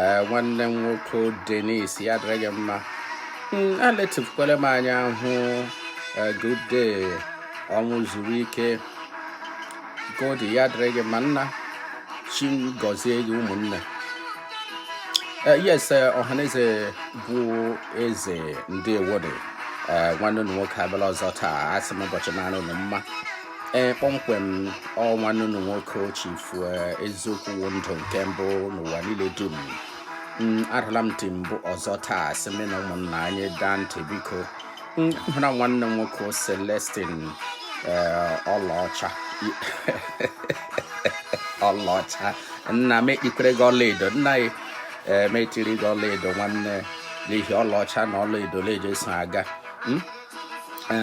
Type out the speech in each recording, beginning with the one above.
ee nwanne m nwoke Denis ya dịrị gị mma hmm, aletịpụkwala m anya hụ good day Ọnwụzuruike Goddy ya dịrị gị mma nna chi gọzie gị ụmụnne Eh, yes eh, ọhaneze bụ eze ndewo nị eh, nwanne unu nwoke abịala ọzọ taa asị m ụbọchị mara unu mma ee kpọmkwem ọ nwanne unu nwoke chifu eziokwu wụ ndụ nke mbụ n'ụwa niile dum adala m tim ọzọ taa sị m na ụmụnna anyị daa ntị biko m hụra nwanne m nwoke Celestin ee ọlaọcha ọlaọcha nna m etikwere gị ọlaedo nna ya ee m etiri gị ọlaedo nwanne n'ihi ọlaọcha na ọlaedo leje so aga m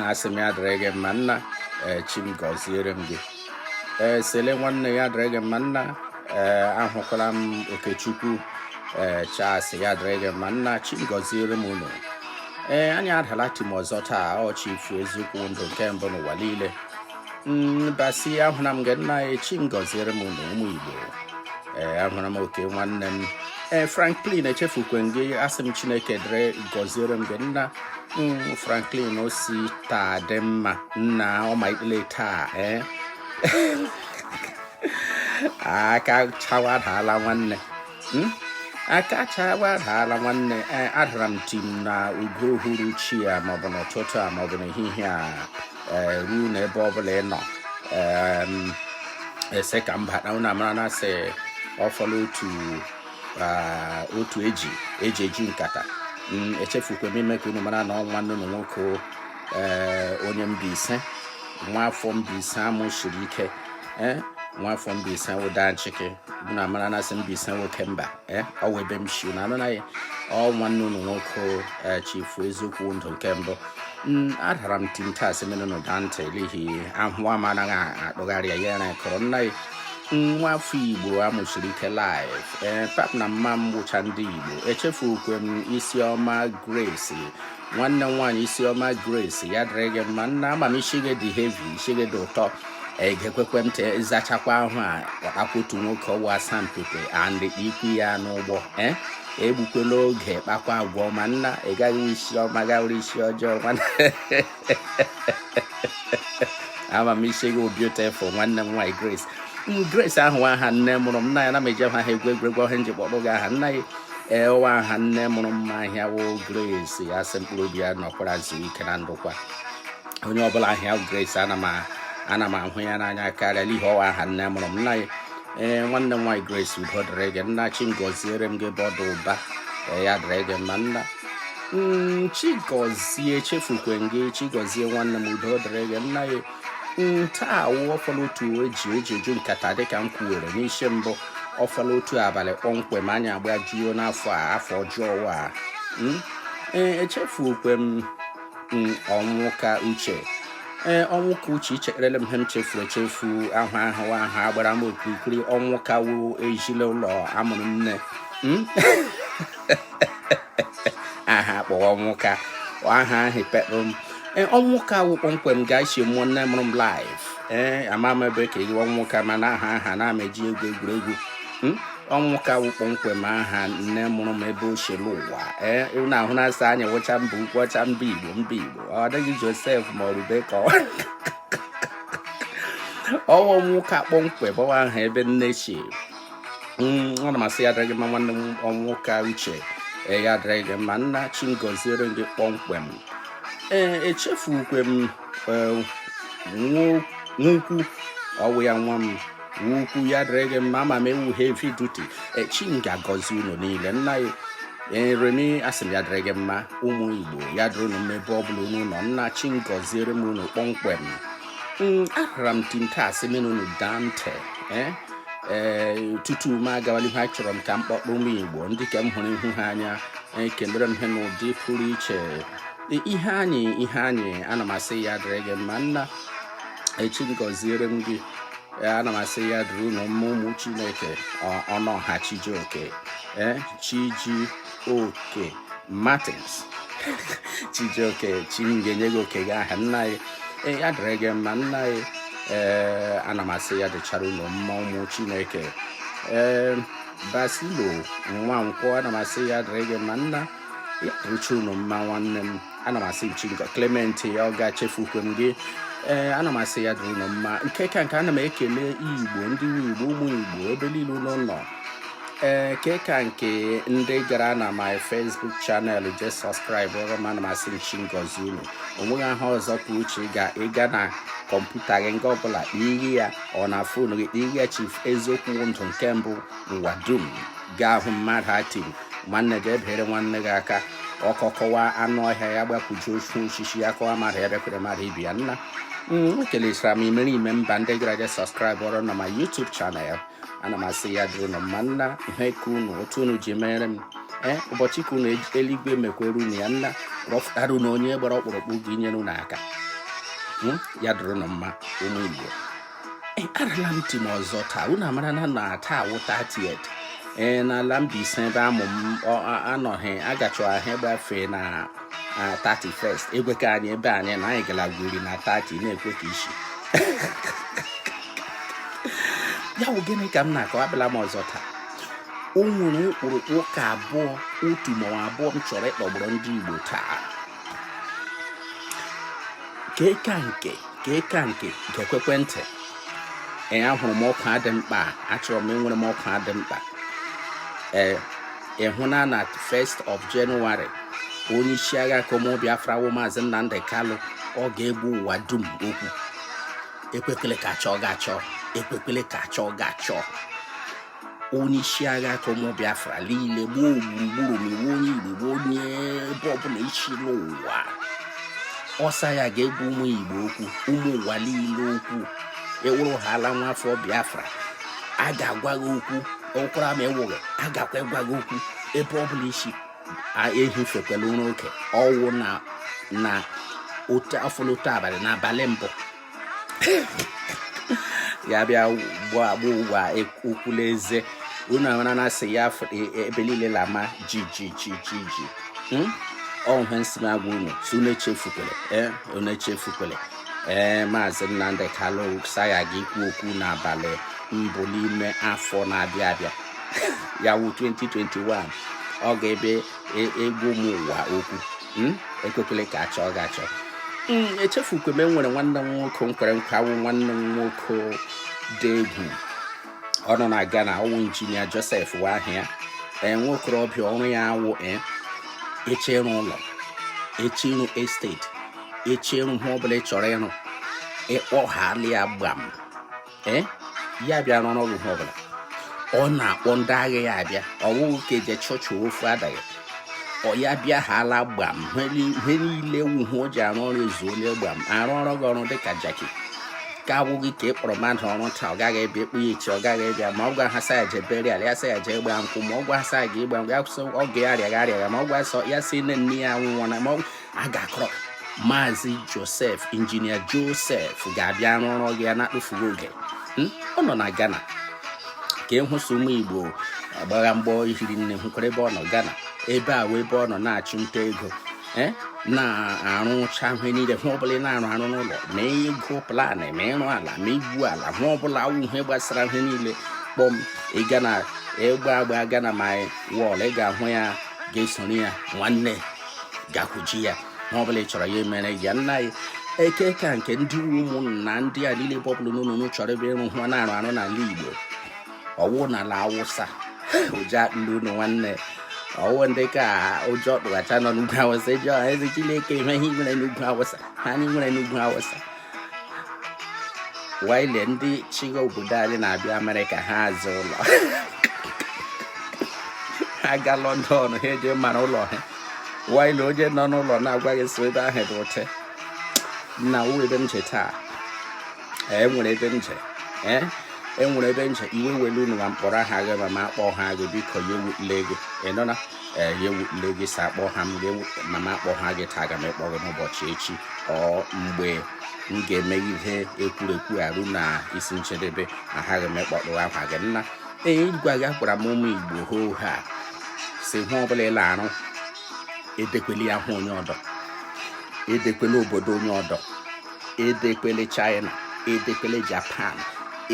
asị m ya dịrị gị mma nna eh, chi m gọziere m gị ee eh, sele nwanne ya dịrị gị mma nna ee eh, ahụkwala m okechukwu ee Charles ya dịrị gị mma nna chi m gọziere m unu ee anyị adala tim ọzọ taa chifu eziokwu ndụ nke mbụ n'ụwa niile basi mm, ahụra m gị nna chi m gọziere m unu ụmụ igbo ee eh, ahụra m oke nwanne m ee eh, franklin echefukwe m gị asị m chineke dịrị gọziere m gị nna mm, franklin osi taa dị mma nna ọma ikpele taa ee eh. aka chawa daala nwanne hmm? aka chawa daala nwanne adara m tim na oge uhuruchi a maọbụ n'ụtụtụ a maọbụ n'ehihie a ee ruo na ebe ọbụla ị nọ asị ka mba na unu mara na sị ọ fọla otu otu eji eji eji nkata mm, echefukwa m ime ka unu mara na ọ nwanne unu nwoke onye Mbaise nwa afọ Mbaise a mụsiri ike nwa afọ Mbaise wụda nchịkị unu mara na sị Mbaise nwoke mba eh, ọ wụ ebe m si na anụ naghị ọ nwanne unu nwoke eh, chifu eziokwu ndụ nke mbụ Mm, adara m tim taa sị m unu daa ntị n'ihi ahụ a anaghị akpụgharị ya ya kọrọ nna ya nwa afọ igbo a mụsiri ike live ee pap na mma m gwụcha ndị igbo echefukwe m isiọma grace nwanne m nwaanyị isiọma grace ya dịrị gị mma nna ama m isi gị dị heavy isi gị dị ụtọ egekwekwe ntị ị sachakwa ahụ a kpọtakwa otu nwoke nwa asampete andị ikwu ya n'ụgbọ eh? egbukwela oge kpakwa agwa ọma nna ị gaghị isi ọma gawere isi ọjọọ ama m isi gị beautiful nwanne m nwaanyị grace grace ahụ aha nne mụrụ m nna ya na m eji ya egwu egwuregwu ọ ya m ji kpọpụ gị aha nna ya ọ wụ aha nne mụrụ m aha ya wụ grace asị m mkpụrụ obi ya nọkwara zuru ike na ndokwa onye ọbụla aha ya grace ana m ana m ahụ ya n'anya karịa n'ihi ọ wụ aha nne mụrụ m nna ya ee nwanne m nwaanyị grace udo dịrị gị nna chi m gọziere m gị ebe ọ dị ụba ee ya dịrị gị mma nna Mm, chigozie chefukwe gị chigozie nwanne m udo dịrị gị nna ya ntaa wụ ọ fọla otu ji ji eju nkata dịka m kwuwere n'isi mbụ ọ fọla otu abalị kpọmkwem anyị agbajuo n'afọ a afọ ọjọọ a hmm? ee echefukwe m hmm, ọnwụka uche ee ọnwụka uche ichetarala m ihe m chefuru echefu aha aha ahụ gbara m okirikiri ọnwụka wụ ezinaụlọ amụrụ nne hmm? aha akpọwa ọnwụka aha ahụ pekpụ m e, ọnwụka wụ kpọmkwem nga esi mụọ nne mụrụ m live ee eh, ama m ebe ka eyiwa ọnwụka mana aha aha na-ama eji egwu egwuregwu hmm? ọnwụka wụ kpọmkwem aha nne mụrụ m ebe ochie n'ụwa ee eh, na ahụ na-asa anya wụcha mba ukwu ọcha mba igbo mba igbo ọ dịghị josef ma ọ rebeka ọ wụ ọnwụka kpọmkwem ọ wụ aha ebe nne chi ana m asị ya dịrị gị mma nwanne m ọnwụka uche ee ya dịrị gị mma nna chi m gọziere gị kpọmkwem ee echefukwe m nwukwu ọ wụ ya nwa m ukwu ya dịrị gị mma ama m ị wụ heavy duty chi m ga-agọzi unu niile nna ya remi asị m ya dịrị gị mma ụmụ igbo ya dịrị unu mma ebe ọ bụla unu nọ nna chi m gọziere m unu kpọmkwem mm, arara m tinta asị menụnụ dante eh? ee eh, tupu m agawala ihu achọrọ m ka m kpọkpọ ụmụ igbo ndị nke m hụrụ ihu ha anya ekelere eh, m ha n'ụdị pụrụ iche ihe anyị ihe anyị ana m asị ya dịrị gị mma nna chi m gọziere m gị ana m asị ya dịrị unu mma ụmụ chineke ọnụọha chijioke ee chiji oke Martins Chijioke chi m ga-enye gị oke gị aha nna anyị ee ya dịrị gị mma nna anyị ee ana m asị ya dịchara unu mma ụmụ Chineke ee Basilo Nwankwọ ana m asị ya dịrị gị mma nna ya dịrịcha unu mma nwanne m ana m asị chi nke Clement ya ọ ga-echefukwe m gị ee ana m asị ya dịrị unu mma nke ka nke ana m ekele igbo ndị igbo ụmụ igbo ebe niile unu nọ ee nke ka nke ndị gara na my facebook channel je subscribe ọrụ m ana m asị chi m gọzie unu onweghị aha ọzọ ka uche ị ga ịga na kọmputa gị nga ọbụla iri ya ọ na fon gị iri ya chief eziokwu ndụ nke mbụ ụwa dum gaa hụ mmadụ ha tiri nwanne gị enyere nwanne gị aka ọkọ kọwaa anụ ọhịa ya gbakwujuo ofu osisi ya kọwa mmadụ ya bịakwuru mmadụ ibe ya nna m ekelechara m imerime mba ndị gara je subscribe ọrụ na my youtube channel ana m asị ya dịrị unu mma nna ihe ka unu otu unu ji mere m ee ụbọchị ka unu eluigwe mekwere unu ya nna rọfụtara unu onye gbara ọkpụrụkpụ ga-enyere unu aka hmm? ya dịrị unu mma ụmụ Igbo arala m tim ọzọ taa unu amara na na taa wụ 30 ee n'ala Mbaise ebe a mụ m anọghị aga chọọchị agbafe na 31st egwe ka anyị ebe anyị na anyị gara gwuri na 30 na-ekwe ka isi ya bụ gịnị ka m na-akọ abịala m ọzọ taa o nwere ụkpụrụkpụ ụka abụọ otu ma ọ wụ abụọ m chọrọ ịkpọgburu ndị Igbo taa keka nke keka nke gekwekwe ntị ee ahụrụ m ọkwa dị mkpa achọrọ m enwere m ọkwa dị mkpa ee ị hụna na 1st of January onye isi agha ke ụmụ Biafra wụ maazị Nnamdi Kanu ọ ga-agwa ụwa dum okwu ekwekwele ka a chọọ gị achọ ekwekwele ka a chọọ gị achọ onye isi agha ke ụmụ Biafra niile gbaa gburugburu ma ị wụ onye Igbo wụ onye ebe ọbụla ị si n'ụwa ọ sị ya ga-agwa ụmụ Igbo okwu ụmụ ụwa niile okwu ị wụrụhaala nwa afọ Biafra a ga-agwa gị okwu ụkwara ma ị wụghị a gakwa ịgwa gị okwu ebe ọ bụla ị si ehifekwala ụra oke ọ wụ na na otu afọlụ otu abalị n'abalị mbụ ya bịa gwa agwa ụwa okwu la e, eze unu amara na asị ya e, e, ebe niile la-ama ji ji ji ji ji hmm? ọ wụ ihe m si na-agwa unu sị unu echefukwele unu echefukwele ee maazị Nnamdi Kanu sị ya ga ikwu okwu n'abalị mbụ n'ime afọ na-abịa abịa ya wụ 2021 ọ ga-abịa e, agwa ụmụ ụwa okwu hmm? ekwekwele ka a chọọ gị achọ hmm, echefukwe m e nwere nwanne m nwoke m kwere nkwa wụ nwanne m nwoke dị egwu ọ nọ na Ghana ọ wụ injinia Joseph wụ aha ya ee nwokorobịa ọrụ ya awụ e, eche ịrụ ụlọ eche ịrụ esteti eche ịrụ ihe ọbụla ị chọrọ ịrụ ị kpọhaala ya gbam ee eh? ya bịa rụrụ ọrụ ihe ọbụla ọ na-akpọ ndị agha ya abịa ọ wụghị ka eje chọọchị ofu adaghị ọ ya bịahaala gbam ihe niile wuhu o ji arụ ọrụ ezuole gbam arụọrọ gị ọrụ dịka jaki ka ọ wụghị ka ị kpọrọ mmadụ ọrụ taa ọ gaghị abịa e kpọọ ya echi ọ gaghị abịa ma ọ gwa ha sị ya je burial ya sị ya je gba nkwụ ma ọ gwa ha sị ya ga ịgba nkwụ ya kwuo sị ọgọ ya arịagha arịagha ma ọ gwa ya sị nne nne ya nwụọ na ma a ga-akpọrọ maazị josef injinia josef ga-abịa rụọrọ gị ya na-atụfughị oge hmm? ọ nọ na ghana ka ịhụsị ụmụ igbo agbagha mgbọ ihiri nne hụkwara ebe ọ nọ ghana ebe a wụ ebe ọ nọ na-achụ nta ego eh? na-arụcha ihe niile ihe ọbụla ị na-arụ arụ n'ụlọ ma ịgụ plan ma ịrụ ala ma igwu ala ihe ọbụla wụ ihe gbasara ihe niile kpọm ị ga na ịgba agba ghana ma wọl ị ga-ahụ ya ga-esoro ya nwanne gakwuje ya ihe ọ bụla ị chọrọ ya emere ya nna anyị nke ka nke ndị ụmụnna ndị a niile ọbụrụ na unu chọrọ ebe ịrụ ihe na-arụ arụ n'ala Igbo ọwụ n'ala Awụsa ụjọ atụla unu nwanne ọwụ ndị ka ụjọ tụghacha nọ n'ugwu awụsa eji ọha eze Chineke ihe ihe nwere n'ugwu awụsa ihe anyị nwere n'ugwu awụsa while ndị chịgha obodo anyị na-abịa amerịka ha azụọ ụlọ ha ga lọndọn ha eje mara ụlọ ha while onye nọ n'ụlọ na-agwaghị so ebe ahụ bụ ụtị na wụ ebe m je taa enwere ebe m je ee enwere ebe m je iwe ewele unu ma m kpọrọ aha gị ma m akpọha gị biko ya ewutela gị ị nụna ee ya ewutele gị sị akpọha m ma m akpọha gị taa aga m ịkpọ gị n'ụbọchị echi or mgbe m ga-eme ihe ekwurekwu a ruo na isi njedebe aghaghị m ịkpọtụkwa gị nna ee agwaghakwara m ụmụ igbo hoo ha sị ihe ọbụla ị la-arụ edekwele ya ihe onye ọdọ edekwele obodo onye ọdọ edekwele china edekwele japan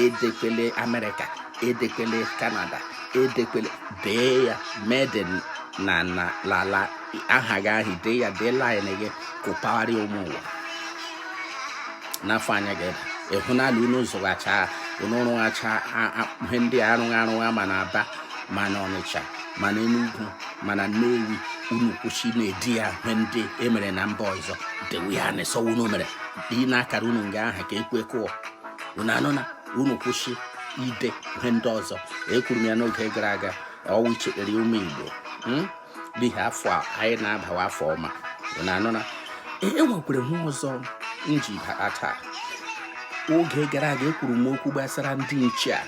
edekwele amerịka edekwele kanada edekwele dee ya made in lala aha gị ahụ dee ya dee line gị kụpagharị ụmụ ụwa n'afọ anya gị ịhụ n'ala unu zụghacha unu rụghacha ihe ndị a rụgha arụgha ma na aba ma na ọnịcha ma na enugwu ma na nnewi unu kwụsị na-ede ya ihe ndị emere na mba ọzọ dewe ya na sọ unu mere tinye akara unu nga ahụ ka ekwe kụọ unu anụna unu kwụsị ide ihe ndị ọzọ ekwuru m ya n'oge gara aga ọwụ ichetere ụmụ igbo hmm? n'ihi afọ a anyị na-abawa afọ ọma unu anụna enwekwere ihe ọzọ m ji bata taa oge gara aga ekwuru m okwu gbasara ndị nche a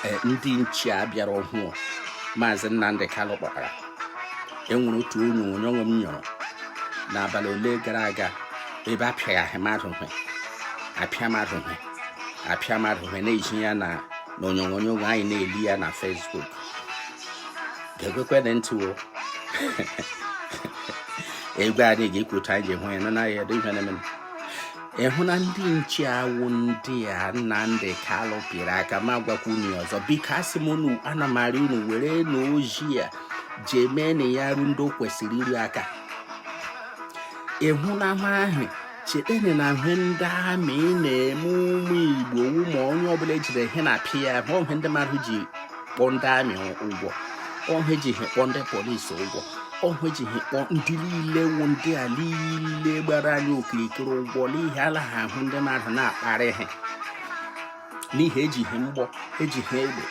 eh, ndị nche a bịara ọhụụ maazị Nnamdi Kanu kpọtara enwere otu onyonyo onwe m nyọrọ n'abalị ole gara aga ebe a pịagha mmadụ hwe apịa mmadụ hwe apịa mmadụ hwe na-ezi ya na onyonyo anyị na-ele ya na Facebook geekwekwene ntị o egwu anyị ga-ekwuta anyị ji hụ ya na naghị edo ihe na-eme ịhụ na ndị nche a wụ ndị a Nnamdi Kalụ pịrị aka ma gwakwa unu ọzọ biko asị m unu ana m arịọ unu werenụ ozi a jee meenụ ya ru ndị o kwesịrị iru aka ịhụ na ha ahụ cheteni na ihe ndị amị na-eme ụmụ Igbo ụmụ onye ọbụla ejide ha na-apịa ya ọ ihe ndị mmadụ ji kpọọ ndị amị ụgwọ ọ ihe eji ha kpọọ ndị polisi ụgwọ ọ ihe eji ha kpọọ ndị niile wụ ndị a niile gbara anyị okirikiri ụgwọ n'ihi ala ha ahụ ndị mmadụ na-akparị ha n'ihi eji ha mgbọ eji ha egbe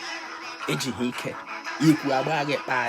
eji ha ike ikwu agba gị kpaa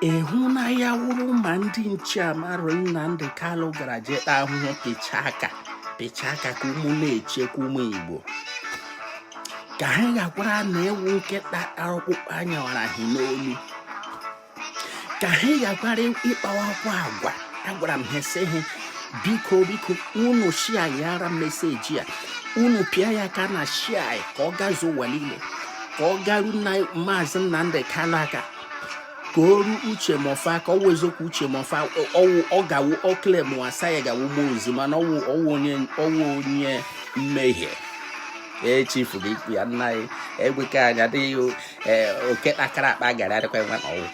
ịhụ na ya wụrụ ma ndị nche a maazị Nnamdi Kanu gara je ta ahụhụ pịcha aka pịcha aka ka ụmụ na-echekwa ụmụ Igbo ka ha ghakwaranụ ịwụ nkịta tara ọkpụkpụ anyawara ha n'olu ka ha ghakwara ịkpawakwa agwa agwara m ha sị ha biko biko unu share ara message a unu pịa aka na share ka ọ gazuo ụwa niile ka ọ garu na maazị Nnamdi Kanu aka ka o ru Uche Mefor ka ọwụ eziokwu Uche Mefor ọwụ ọ gawo ọkle mụasa ya gawo gbuo ozi mana ọwụ ọwụ onye ọwụ onye mmehie echifu gị ikwu ya nna anyị egweke anya adịghị oke takara akpa gara adịkwa nwa na ọwụ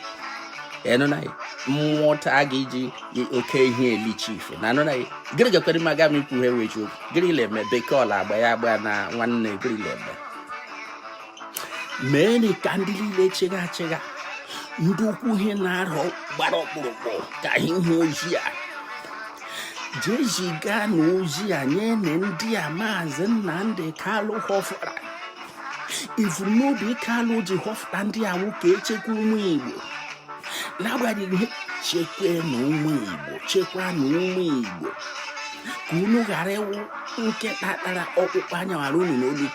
enụnaghị mmụọ taa gị iji oke ihe eli chifu na anụnaghị gịrị gakwere maga m ikwu ha ewechi okwu gịrị leme bekee ọla agba ya agba na nwanne gịrị leme mee ka ndị niile chịga achịga ndị ukwu ha na-arọ gbara ọkpụrụkpụ ka ha hụ ozi a jee ziganụ ozi a nyenụ ndị a maazị Nnamdi Kalụ họfụtara ivuru n'obi Kalụ ji họfụta ndị a wụ ka echekwa ụmụ Igbo na-agwa ha chekwanụ ụmụ Igbo chekwanụ ụmụ Igbo ka unu ghara ịwụ nkịta tara ọkpụkpụ anyawara unu n'olu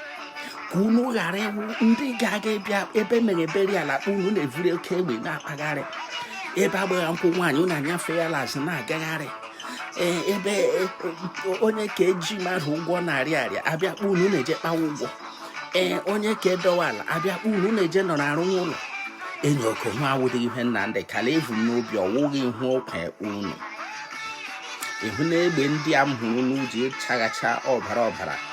ka unu ghara ịwụ ndị ga-aga ịbịa ebe mere burial akpọ unu na-evuri oke egbe na-akpagharị ebe agbagha nkwụ nwaanyị unu anyafe ya l'azụ na-agagharị Eh, ebe eh, onye ka eji mmadụ ụgwọ narị arịa abịa kpọ unu na-eje kpawa ụgwọ ee eh, onye ka adọwa ala abịa kpọ unu na-eje nọ na-arụ ụlọ enyi oke nwa awụdị ihe Nnamdi Kalụ vu n'obi ọwụghị ihe ọ gwa unu ịhụ na egbe ndị a m hụrụ unu ji chaghacha ọbara ọbara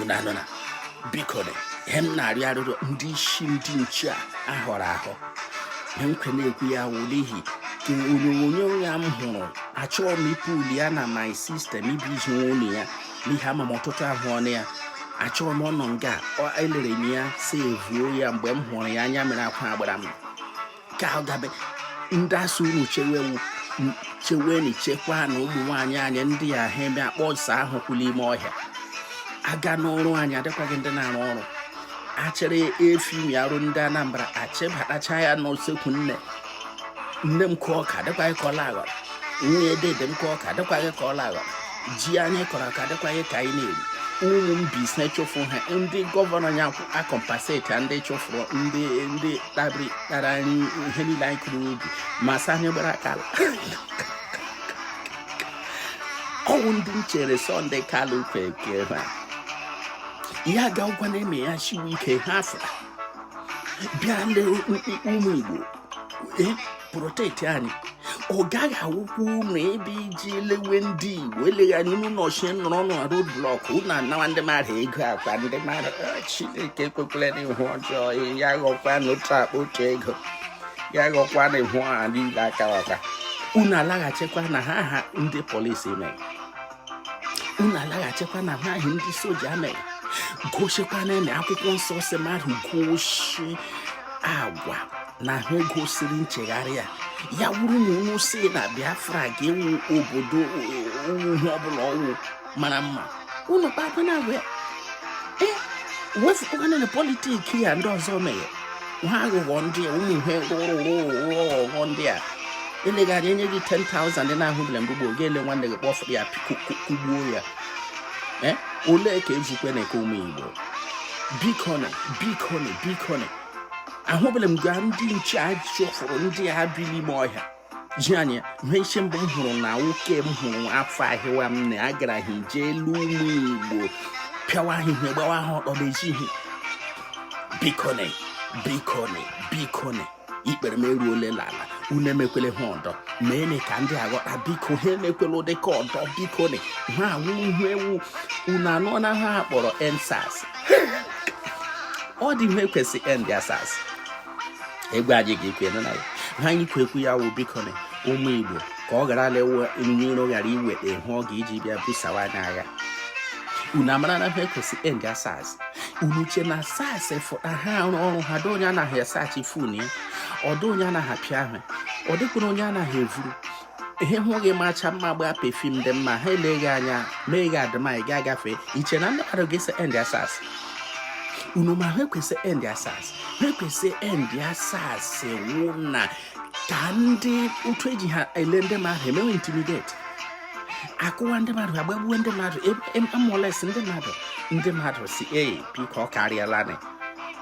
unu anụna bikonụ ihe m na-arịọ arịrịọ ndị isi ndị nche a ahọrọ ahọ ihe m ka na-ekwu ya wụ n'ihi ka onyonyo a m hụrụ achọọ m ịpụ uli ya na my system ibi izu nwunye ya n'ihi ama m ọtụtụ ahụ ọnụ ya achọrọ m ọnọ nga elere m ya sevuo ya mgbe m hụrụ ya anya mere akwa agbara m ka ọ gabe ndị a sị unu chewewu cheweni chekwa na ụmụ nwaanyị anyị ndị a ha eme akpọ ọsa ahụ kwụla ime ọhịa aga n'ọrụ anyị adịkwaghị ndị na-arụ ọrụ achịrị efi mi arụ ndị anambra achịbatacha ya n'usekwu nne nne m kụọ ọka adịkwaghị ka ọla aghọrọ nwunye dede m kụọ ọka adịkwaghị ka ọla aghọrọ ji anyị kọrọ aka adịkwaghị ka anyị na-eri ụmụ m bi chụfụ ha ndị gọvanọ ya acompensate ndị chụfụrụ ndị ndị tabiri tara anyị ihe niile anyị kụrụ ubi ma sị anyị gbara aka ọ wụ ndị m chere sọnde kalụ kweke ha ya ga ọgwụ na-eme ya siwe ike ha fụrụ bịa ndị ụmụ igbo protect anyị ọ gaghị awụkwa unu ebe e ji elewe ndị igbo eleghị anya unu nọchie nọrọ na road block unu anawa ndị mmadụ ego akụwa ndị mmadụ ah, chineke ekwekwele ihe ọjọọ ya ghọkwa n'otu akpa otu ego ya ghọkwa na ihe ọha niile akawaka unu alaghachikwa na ihe ahụ ndị polisi mere unu alaghachikwa na ihe ahụ ndị soja mere gosikwa na akwụkwọ nsọ sị mmadụ gosi agwa na ha gosiri nchegharị ya ya wụrụ na unu sị na biafra ga-awụ obodo ihe ọbụla ọ wụ mara mma unu kpakwa na agwa ya ee wefụkwana na politiki ya ndị ọzọ mere ihe aghụghọ ndị a ụmụ ihe rụrụ arụ aghụghọ ndị a eleghị anya e nye gị 10,000 ị na-ahụbele mgbe gboo ga-ele nwanne gị kpọfụ ya kụgbuo ya eh? olee ka ezukwe na eke ụmụ igbo bikoni bikoni bikoni ahụbele m nga ndị nche a chụfụrụ ndị a bi n'ime ọhịa ji anya ihe isi mbụ m hụrụ na nwoke m hụrụ afọ ahịwa m na agara ha ije elu ụmụ igbo pịawa ha ihe gbawa ha ọtọ n'ezi ihe bikoni bikoni bikoni ikpere m eruole l'ala unu emekwele ha ọdọ meene ka ndị a ghọta biko ha emekwele ụdị ka ọdọ biko na ha awụghị ewu unu anụna ihe a kpọrọ endsars ọ dị ihe e kwo sị endsars egwu anyị ga-ekwu na ya ihe anyị kwo ekwu ya wụ biko na ụmụ igbo ka ọ ghara lewe onye iro ghara iweta ihe ọ ga-eji bịa busawa anyị agha unu amara na ihe e kwo sị end sars unu che na sars fụta ha arụ ọrụ ha dị onye anaghị asearch fon ya ọ dị onye anaghị apịa ahụ ọ dịkwara onye anaghị evuru ihe hụ gị macha mma gbaa perfume dị mma ha elee gị anya mee gị admire gị agafe i che na ndị mmadụ ga-asị end sars unu ma ihe e kwo sị end sars ihe e kwo sị end sars wụ na ka ndị otu eji ha ele ndị mmadụ emewe intimidate akụwa ndị mmadụ agbagbuo ndị mmadụ amolest e, e, e ndị mmadụ ndị mmadụ sị ee biko ọ karịala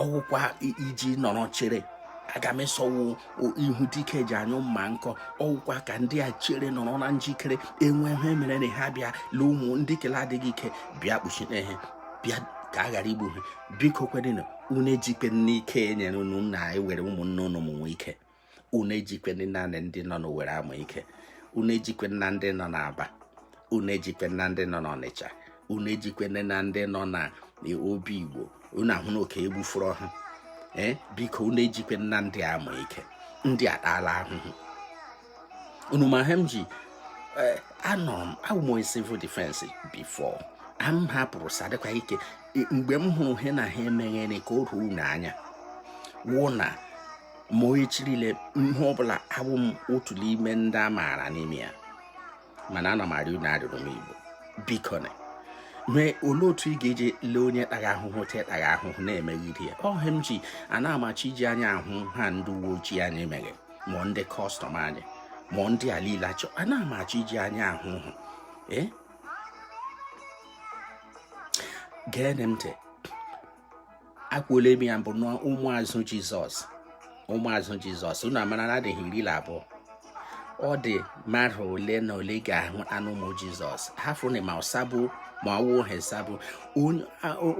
ọwụkwa iji nọrọ chere aga m asị ọwụ ihu dike ji anyụ mma nkọ ọwụkwa ka ndị a chere nọrọ na njikere e nwee ihe merenụ ha bịa lee ụmụ ndị ke la-adịghị ike bịa kpuchite ihe bịa ka a ghara igbu ha biko kwenụ unu ejikwena ike enyere unu na-ewere ụmụnne unu mụwe ike unu ejikwena ndị nọ n'Owere amụ ike unu ejikwena ndị nọ n'Aba unu ejikwena ndị nọ n'Ọnịcha unu ejikwena ndị nọ na Obigbo unu ahụna oke egbufuru ha ee biko unu ejikwena ndị a amụ ike ndị atala ahụhụ unu ma ihe m ji e, anọ m awụ m onye civil defense before m hapụrụ sadịkwa ike mgbe m hụrụ ihe na ha emeghere ka o ruo unu anya wụ na ma onye chirile ihe ọbụla abụ m otu n'ime ndị a maara n'ime ya mana ana m arịọ unu arịrịọ ụmụ Igbo biko na mee olee otu ị ga-eji lee onye tara ahụhụ tetara ahụhụ na-emeghiri ya ọ ihe m ji anaghị m achọ iji anya ahụ ihe ndị uwe ojii anyị mere ma ndị kọstọm anyị ma ndị a niile achọ anaghị m achọ iji anya ahụ hụ ee eh? geenị m ntị ekwuola m ya mbụ na ụmụazụ jizọs ụmụazụ jizọs unu amara na adịghị iri na abụọ ọ dị mmadụ ole na ole ga-ahụ anụ ụmụ jizọs ha fụrụ ma ọsabụ ma ọwụ hesabụ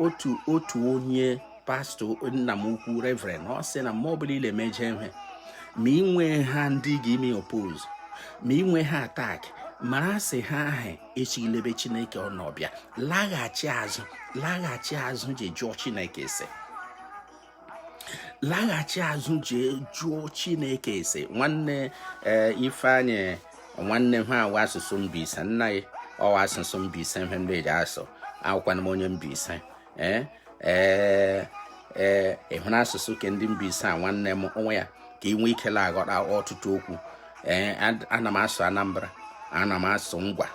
otu otu onye pastọ nna m ukwu reverend ọ sị na mma ọbụla ị la-emeje ihe ma inwe ha ndị ga-eme oppose ma inwe ha attack mara sị ihe ahụ esighị l'ebe chineke nọ bịa laghachi azụ laghachi azụ je jụọ chineke ese laghachi azụ je jụọ chineke ese nwanne eh, ifeanyị nwanne ihe a wụ asụsụ Mbaise nna ya ọwụ asụsụ Mbaise ihe ndị eji asụ awụkwana m onye Mbaise ee ee ee ị hụrụ asụsụ ke ndị Mbaise a nwanne m ọ wụ ya ka ị nwee ike na-aghọta ọtụtụ okwu ee ana m asụ anambra ana m asụ ngwa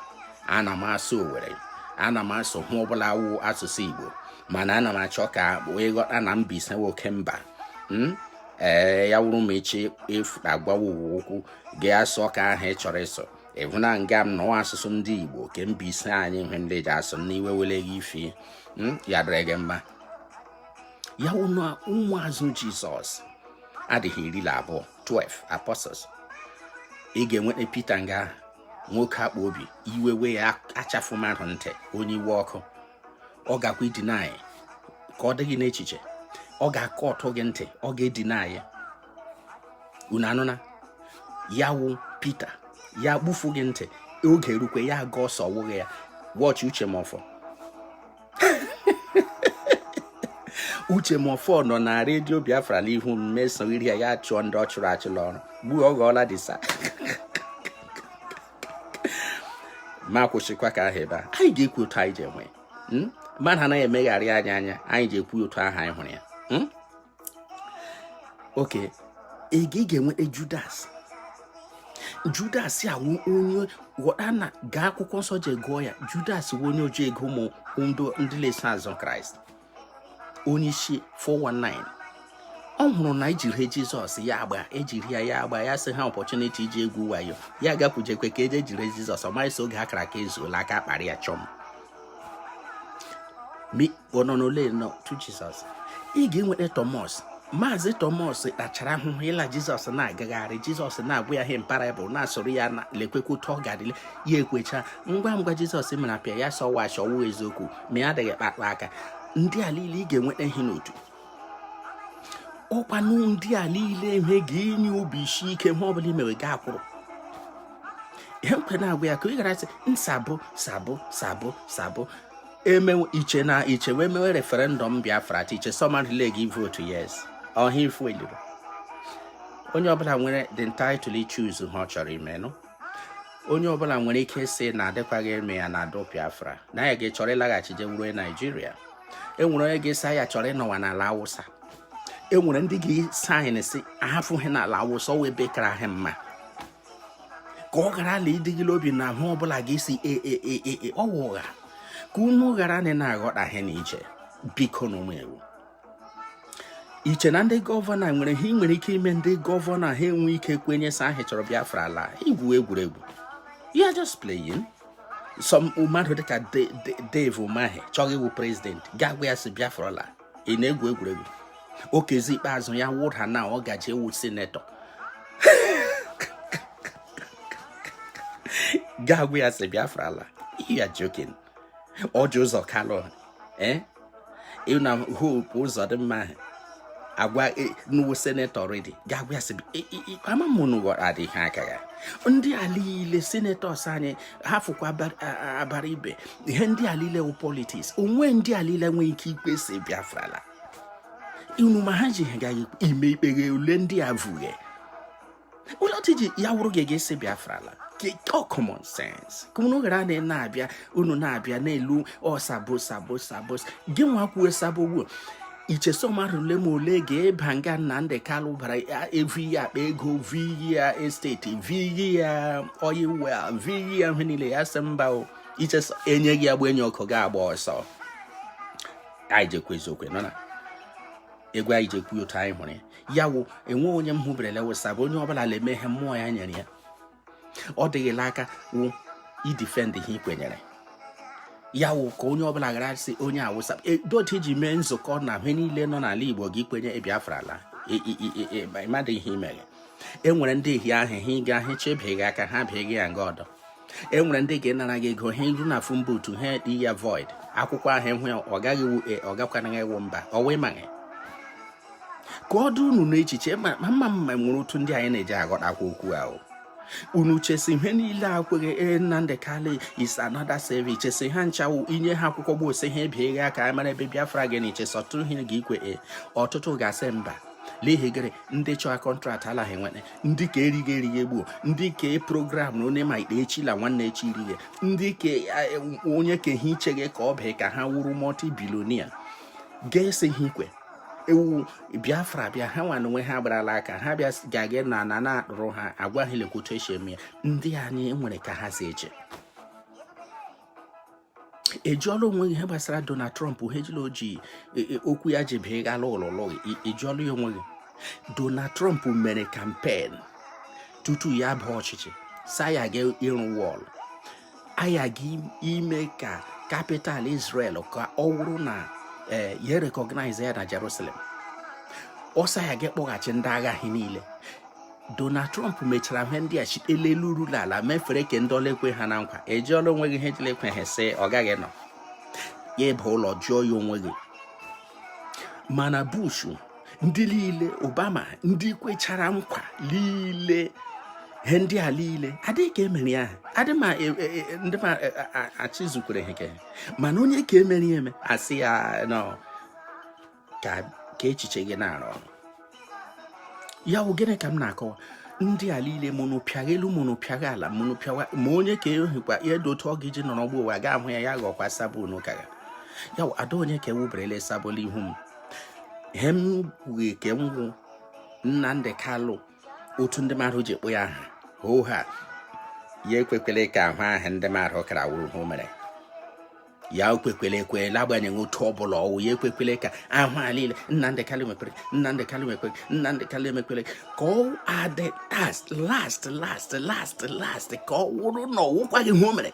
ana m asụ owere ana m asụ ihe ọbụla wụ asụsụ igbo mana ana m achọ ka wee ghọta na Mbaise nwoke mba hmm? ee ya wụrụ ma chi efoo agwawa ụwa okwu gị asụọ ke ahụ ị chọrọ ịsụ ịhụna nga m nọ ọwụ asụsụ ndị igbo ke Mbaise anyị ihe ndị ji asụ n'iwe were gị ife hmm? ya dịrị gị mma ya ụnụ ụmụazụ jizọs adịghị iri na abụọ 12 apostles ị ga-enweta pita nga ahụ nwoke akpa obi iwe wee ya achafụ mmadụ ntị onye iwe ọkụ ọ gakwa ịdeny ka ọ dịghị n'echiche ọ ga-akọ ọtụ gị ntị ọ ga-edeny unu anụna ya wụ Pita ya gbufu gị ntị oge erukwe ya agba ọsọ wụghị ya wọchị Uche Mefor Uche Mefor nọ na redio biafra n'ihu m mesogiri ya ya chụọ ndị ọ chụrụ achụla ọrụ gbuo ọ ghọọla disa ma kwụsịkwa ka ahụ ebe a anyị ga-ekwu otu anyị ji enwe hmm? mmadụ anaghị emegharị anya anya anyị ji ekwu otu ahụ anyị hụrụ ya hmm? oke ị ga-enweta judas judas a wụ onye ghọta na gaa akwụkwọ nsọ je gụọ ya judas wụ onye oji ego ụmụ ndị na-eso azụ kraịst onye isi 419 ọ hụrụ na ejiri jizọs ya agba ejiri ya ya agba ya sị ha opportunity iji egwu wayo ya gakwujekwe ka eje jiri jizọs ọ maghị sị oge akara aka ezuola aka kpara ya chọm ononole nọ n'otu jizọs ị ga-enweta tọmọs maazị tọmọs kpachara ahụhụ ịla jizọs na-agagharị jizọs na-agwa ya ihe na parable na-asoro ya na lekwekwa otu ọ gadịle ya ekwecha ngwa ngwa jizọs mere appear ya sọwa achọwụ eziokwu ma ya adịghị kpakpa aka ndị a niile ị ga-enweta ha n'otu ọkwanụ ndị a niile ihe ga-enye obi isi ike ma ọ bụla imewe gị akwụrụ ihe mkwe na-agwa ya ka ị gara sị sabo sabo sabo sabo emewe iche na iche wee mewe referendum biafra ti iche someone relay gị vote yes ọha ifu eliru onye ọbụla nwere the entitled choose ihe ọ chọrọ imenụ onye ọbụla nwere ike sị na adịkwaghị eme ya na adụ biafra na ya ga chọrọ ịlaghachi je wụrụ Naịjirịa enwere onye ga-asị ya chọrọ ịnọwa n'ala awụsa enwere ndị ga-esaịn sị ahafụghị n'ala awụsa ọ wụ ebe kara ha mma ka ọ ghara la ịdị gị la obi na ahụ ọbụla ga-asị ee e, e, e, ọ wụ ụgha ka unu ghara na na-aghọta ihe na iche biko na ụmụ ewu iche na ndị gọvanọ nwere ihe nwere ike ime ndị gọvanọ ha enwe ike kwenye sị ha chọrọ Biafra ị la-egwu egwuregwu you're just playing some mmadụ dịka Dave Umahi chọrọ ịwụ prezidenti ga-agwa ya sị Biafra ala ị na-egwu egwuregwu Okezie Ikpeazu ya wụda na ọ gaji ewu sinetọ ga-agwa ya sị biafra ala you're joking Orji Uzor Kalu eh? na Hope Uzodimma agwa e, nuwo senetọ already ga-agwa ya sị ama m na ụwara adịghị aka ya ndị a liile senetọs anyị hafụkwa Abaribe ihe ndị a niile wụ politics onwe ndị a niile nwee ike ikpe sị Biafra laa unu ma ha ji ha gaghị ime ikpeghe ule ndị a vughe ụlọtụ ji ya wụrụ gị ga-asị Biafra laa ọ common sense ka unu ghara na na-abịa unu na-abịa n'elu ọ sabo sabo sabo gị nwa kwuo sabo ugbu i che sị ọ mmadụ ole ma ole ga-aba nga Nnamdi Kanu bara evi ya akpa ego vi ya estate vi ya oil well vi ya ihe niile ya sị mba o i che e nye gị agba enye ọkụ ga agba ọsọ anyị ji ekwu eziokwu nọ na egwu anyị ji ekwu otu anyị hụrụ ya ya wụ e nwe onye m hụberele wụ sabo onye ọbụla na-eme ihe mmụọ ya nyere ya ọ dị gị la aka wụ idefend ihe i kwenyere ya wụ ka onye ọbụla ghara sị onye Awụsa e, dot iji mee nzukọ na ihe niile nọ n'ala Igbo ga ikwenye e Biafra alaa ị madị e, ihe imere e nwere ndị ihe ahụ ha ịga ahụ chebie gị aka ha bie gị ya nga ọdọ e nwere ndị ga-enara gị ego ha iru na phone booth ha dị ya void akwụkwọ ahụ enwe ọ gaghị wu e ọ gakwanaghị ewu mba ọ wee maghị ka ọ dị unu n'echiche ma mma mma nwere otu ndị anyị na-eji aghọtakwa okwu ahụ unu che sị ihe niile a kweghe ee Nnamdi Kanu is another saviour che sị ha ncha wụ i nye ha akwụkwọ ugbu a sị ha bie gị aka mara ebe Biafra gị na i che sị ọtụtụ ha ga ikwe e ọtụtụ ga-asị mba n'ihi gịrị ndị chọọ kọntraktị ala gị nwere ndị ke righe erighe ugbu a ndị ke program na onye ma ikpe echi la nwanne echi irighe ndị ke e, onye ke ihe icheghe ka ọ bụ ka ha wụrụ multi-billionaire ga-esi ha ikwe ewu Biafra bịa ha nwa na onwe ha gbara la aka ha bịa ga-aga na na na-akpụrụ ha agwa ha lekwa otu e si eme ya ndị anyị nwere ka ha si eche ị jụọla onwe gị ihe gbasara Donald Trump ihe ejila ojii e, e, okwu ya ji bịa ghala ụlọlọ gị ị jụọla ya onwe gị Donald Trump mere campaign tutu ya baa ọchịchị sị aya ga ịrụ wall aya ga ime ka capital Israel ka ọ wụrụ na e, ya recognize ya na Jerusalem ọ sị aya ga ịkpọghachi ndị agha ha niile Donald Trump mechara ihe ndị a site la elu ruru ala mefere ke ndị ọ la-ekwe ha na nkwa ị jụọla onwe gị ihe ji la-ekwe ha sị ọ gaghị nọ ya ịba ụlọ jụọ ya onwe gị mana Bush ndị niile Obama ndị kwechara nkwa niile ihe ndị a niile ọ dịghị ke e mere ya adị ma e, e, e, ndị ma achịzukwara ha mana onye ke mere ya eme a sị ya nọ ka echiche gị na-arụ ọrụ ya wụ gịnị ka m na-akọwa ndị a niile mụnụ pịagha elu mụnụ pịagha ala mụnụ pịawa ma onye ka ehikwa ya dị otu ọ ga iji nọrọ ụwa ga ahụ ya ya ghọkwa sabo unu kara ya wụ ada onye ka ewuberela sabụla ihu m ihe m kwughị ke m gwụ Nnamdi Kanu otu ndị mmadụ ji ekpo ya aha hoo ha ya ekwekwele ka ahụ ahụ ndị mmadụ kara wụrụ ihe o mere ya ekwekwele ekwe n'agbanyeghị otu ọ bụla ọwụ ya ekwekwele ka ahụ a niile Nnamdi Kanu mekwere Nnamdi Kanu mekwere Nnamdi Kanu emekwere ka ọ adị last last last last last ka ọ wụrụ na ọwụkwaghị ihe o mere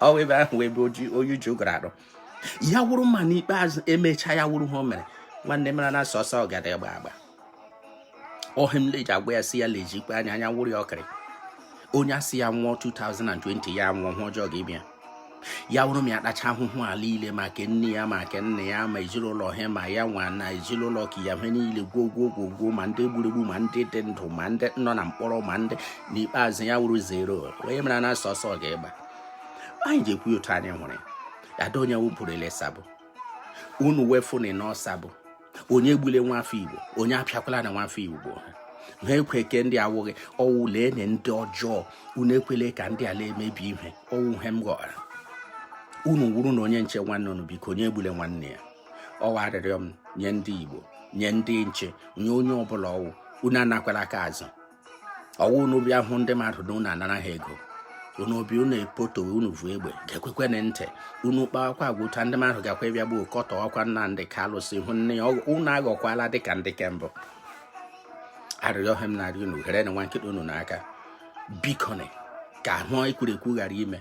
ọ wụ ebe ahụ ebe oji oyi uju gara arụ ya wụrụ ma n'ikpeazụ emechaa ya wụrụ ihe o mere nwanne mara na sọsọ ọgada gba agba ọ ihe m leji agwa ya si ya lejikwa anya anya wụrụ ya ọkịrị onye asị ya nwụọ 2020 ya nwụọ ihe ọjọọ ga-ebịa ya wụrụ m ya kpacha ahụhụ a liile maka nne ya maka nna ya ma ezinụlọ ha ma ya nwa na ezinụlọ ka ya ha niile gwuo gwuo gwuo gwuo ma ndị e gburu egbu ma ndị dị ndụ ma ndị nọ na mkpọrọ ma ndị n'ikpeazụ ya wụrụ zero onye mara na sọsọ ga-egba anyị ji ekwu otu anyị nwere ada onye wụpụrụ ele sabo unu wefụnị nụ sabo onye egbule nwafọ igbo onye apịakwala na nwafọ igbo ha ekwe ke ndị awụghị ọwụ lee na ndị ọjọọ unu ekwele ka ndị ala emebi ihe ọwụ ihe m ghọrọ unu wụrụnụ onye nche nwanne unu biko onye egbule nwanne ya ọwụ arịrịọ m nye ndị igbo nye ndị nche nye onye ọbụla ọwụ unu anakwala aka azụ ọwụ unu bịa hụ ndị mmadụ na unu anara ha ego unu obi unu epotowe unu vu egbe ga-ekwekwenị ntị unu kpawakwa agwụta ndị mmadụ gakwa ịbịa gbuo kọtọ ọkwa Nnamdi Kanu sị hụ nne ya unu aghọkwala dịka ndị ke mbụ arịrịọ ha m na-arịọ unu ghere na nwa nkịta unu n'aka bikoni ka ihe e kwuru ekwu ghara ime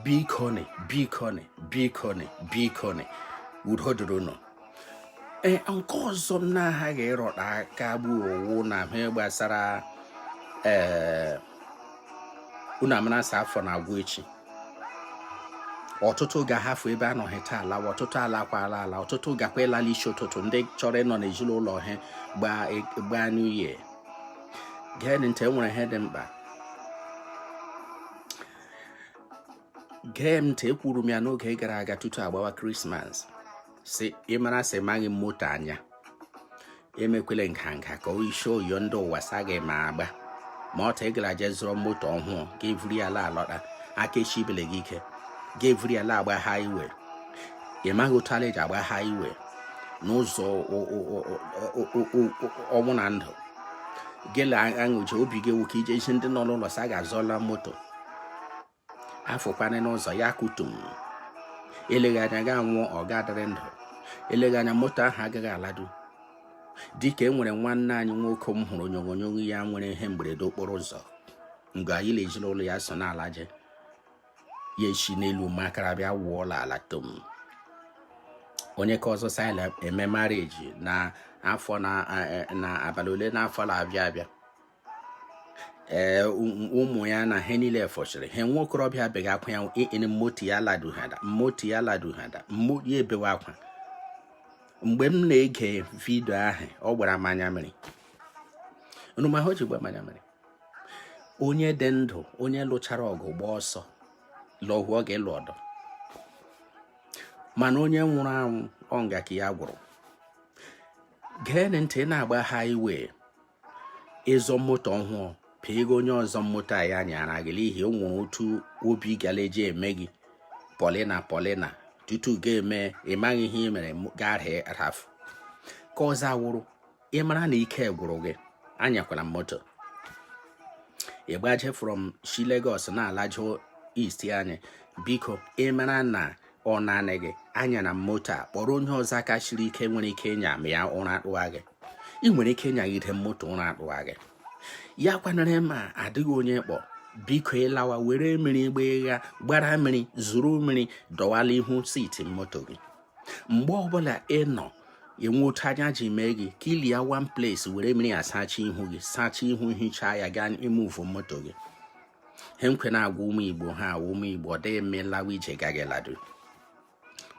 bikoni bikoni bikoni bikoni udo dịrị unu ee nke ọzọ m na-aghaghị ịrọta aka bụ ọwụ na ihe gbasara ee unu amarasa afọ na-agwụ echi ọtụtụ ga-ahafụ ebe anọghị taa alawa ọtụtụ alakwala ala ọtụtụ gakwa ịlala isi ụtụtụ ndị chọrọ ịnọ n'ezinụlọ ha gbaa new year gee ntị enwere ihe dị mkpa gee m ntị ekwuru m ya n'oge gara aga tutu agbawa krismas si ịmara sị maghị moto anya emekwele nganga ka o isi oyo ndị ụwa sa gị ma agba ma ọta ị gara je zụrụ moto ọhụụ ga evuri ala alọta aka esibele gị ike ga evuri ala agba highway ị maghị otu ala eji agba highway n'ụzọ ọnwụ na ndụ gele aṅụje obi gị awụ ka ije isi ndị nọ n'ụlọ sa gị azụọla moto afụkwana n'ụzọ ya kutum eleghị anya ga-anwụ ọ ga-adịrị ndụ eleghị anya moto ahụ agaghị aladu dịka e nwere nwanne anyị nwoke m hụrụ onyonyo ya nwere ihe mberede okporo ụzọ mgbe ya na ezinụlọ ya so na-alaje ya esi n'elu makara bịa wụọla ala tom onye ka ọzọ sila eme marriage na afọ na e, e, abalị ole n'afọ na-abịa abịa ee ụmụ ya na ha niile fọchiri ha nwa okorobịa ebeghị akwa ya ịnị moto ya laduhada moto ya laduhada mmo ya ebewe akwa mgbe m na-ege vidio ahụ ọ gbara m anya mmiri nụmahụ ji gba m anya mmiri onye dị ndụ onye lụchara ọgụ gbaa ọsọ lọhụ ọ ga-alụ ọdọ mana onye nwụrụ anwụ ọ nga ka ya gwụrụ geenị ntị na-agba highway ị zụọ moto ọhụụ pịa ego onye ọzọ moto a ya nyara gị n'ihi o nwere otu obi ga-eji eme gị polina polina tutu ga-eme ị maghị ihe ị mere garhị rafu ka ọzọ awụrụ ị mara na ike gwụrụ gị anyakwala moto ịgbaje from shi Lagos na-alaje east anyị biko ị mara na ọ naanị gị anya na moto a kpọrọ onye ọzọ aka siri ike nwere ike ịnya ma ya ụra akpụwa gị ị nwere ike ịnyagide moto ụra akpụwa gị ya kwanere ma ọ dịghị onye kpọ biko ị lawa were mmiri gba ịgha gbara mmiri zụrụ mmiri dọwala ihu seat moto gị mgbe ọbụla ị nọ e nwee otu anya ji mee gị clear one place were mmiri asacha ihu gị sacha ihu hichaa ya gaa move moto gị he nke na-agwa ụmụ igbo ha ụmụ igbo ọ dịghị mma ị lawa ije gaghị ladu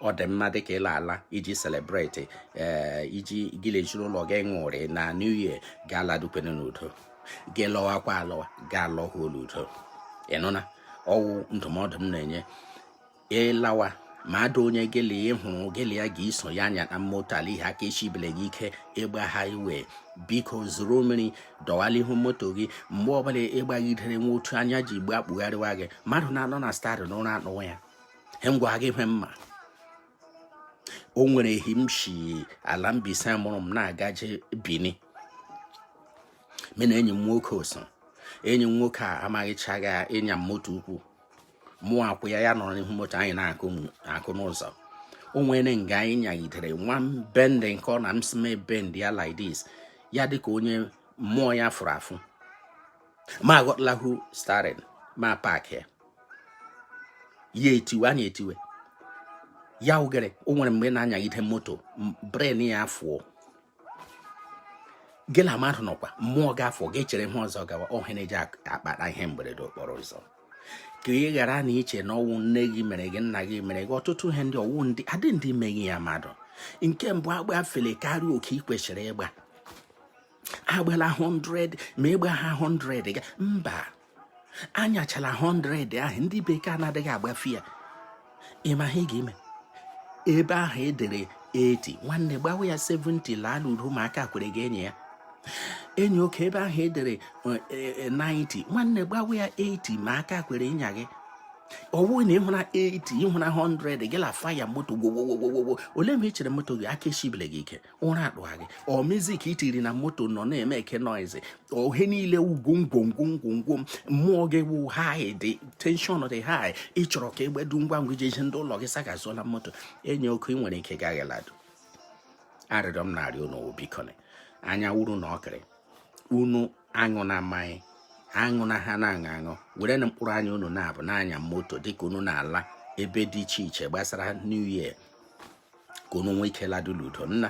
ọ dị mma dịka ị la-ala iji celebrate ee eh, iji gị na ezinụlọ gị ṅụrịa na new year gaa ladukwene n'udo gị lọwakwa alọwa gaa lọhuo n'udo ị nụna ọ wụ ndụmọdụ m na-enye ị lawa ma ada onye gịlị ị hụrụ gị la ya ga-eso ya anya na moto ala ihe aka eshibele gị ike ịgba highway biko zụrụ mmiri dọwala ihu moto gị mgbe ọbụla ị gbagidere e nwee otu anya ji gbe akpụgharịwa gị mmadụ na-anọ na steering ụra anụwa ya he m gwa gị hwe m ma o nwere ehi m shi ala Mbaise mụrụ m na-agaje Bini mụ na enyi m nwoke so enyi m nwoke a amaghịchaghị ịnya moto ukwu mụ akwụ ya ya nọrọ n'ihu moto anyị na-akụ n'ụzọ o nwere nga anyị nyagidere e nwee bend nke ọ na m si mee bend ya like this ya dịka onye mmụọ ya fụrụ afụ m aghọtala hu steering ma park ya ya etiwe anya etiwe ya oghere o nwere mgbe na-anyagide moto brain ya afụọ gị na mmadụ nọkwa mmụọ gị afụọ gị echere ihe ọzọ gawa ọ ihe na-eji akpata ihe mberede okporo ụzọ ka ị ghara na iche na ọ wụ nne gị mere gị nna gị mere gị ọtụtụ ihe ndị ọwụ ndị adị ndị meghị ya mmadụ nke mbụ agbafele karịa oke ị kwesịrị ịgba agbala 100 ma ịgba ha 100 ga mba anyachala 100 ahụ ndị bekee anadịghị agbafe ya ị ma ihe ị ga-eme ebe ahụ edere 80 nwanne gbawa ya 70 laa n'udo ma aka kwere gị ịnya enyi oke ebe ahụ edere 90 e, e, e, nwanne gbawa ya 80 ma aka kwere ịnya gị ọ wụ na ị hụra 80 ị hụra 100 gị la fire moto gwowowowowo ole ma ị chere moto gị aka eshibile gị ike ụra adụgha gị ọ music i tiri na moto nọ na-emake noise ihe niile ugwu ngwongwo ngwongwo mmụọ gị wụ high dị tension dị high ị chọrọ ka ị gbedu ngwa ngwa ije zi ndị ụlọ gị sị gị azụọla moto enyi oke ị nwere ike gaghị aladu arịrịọ m na-arịọ unu bikoni anya wuru na ọkịrị unu aṅụna mmanya aṅụna ihe a na-aṅụ aṅụ werenụ mkpụrụ anya unu n'abụọ na-anya moto dịka unu na-ala ebe dị iche iche gbasara new year ka unu nwee ike ladu n'udo nna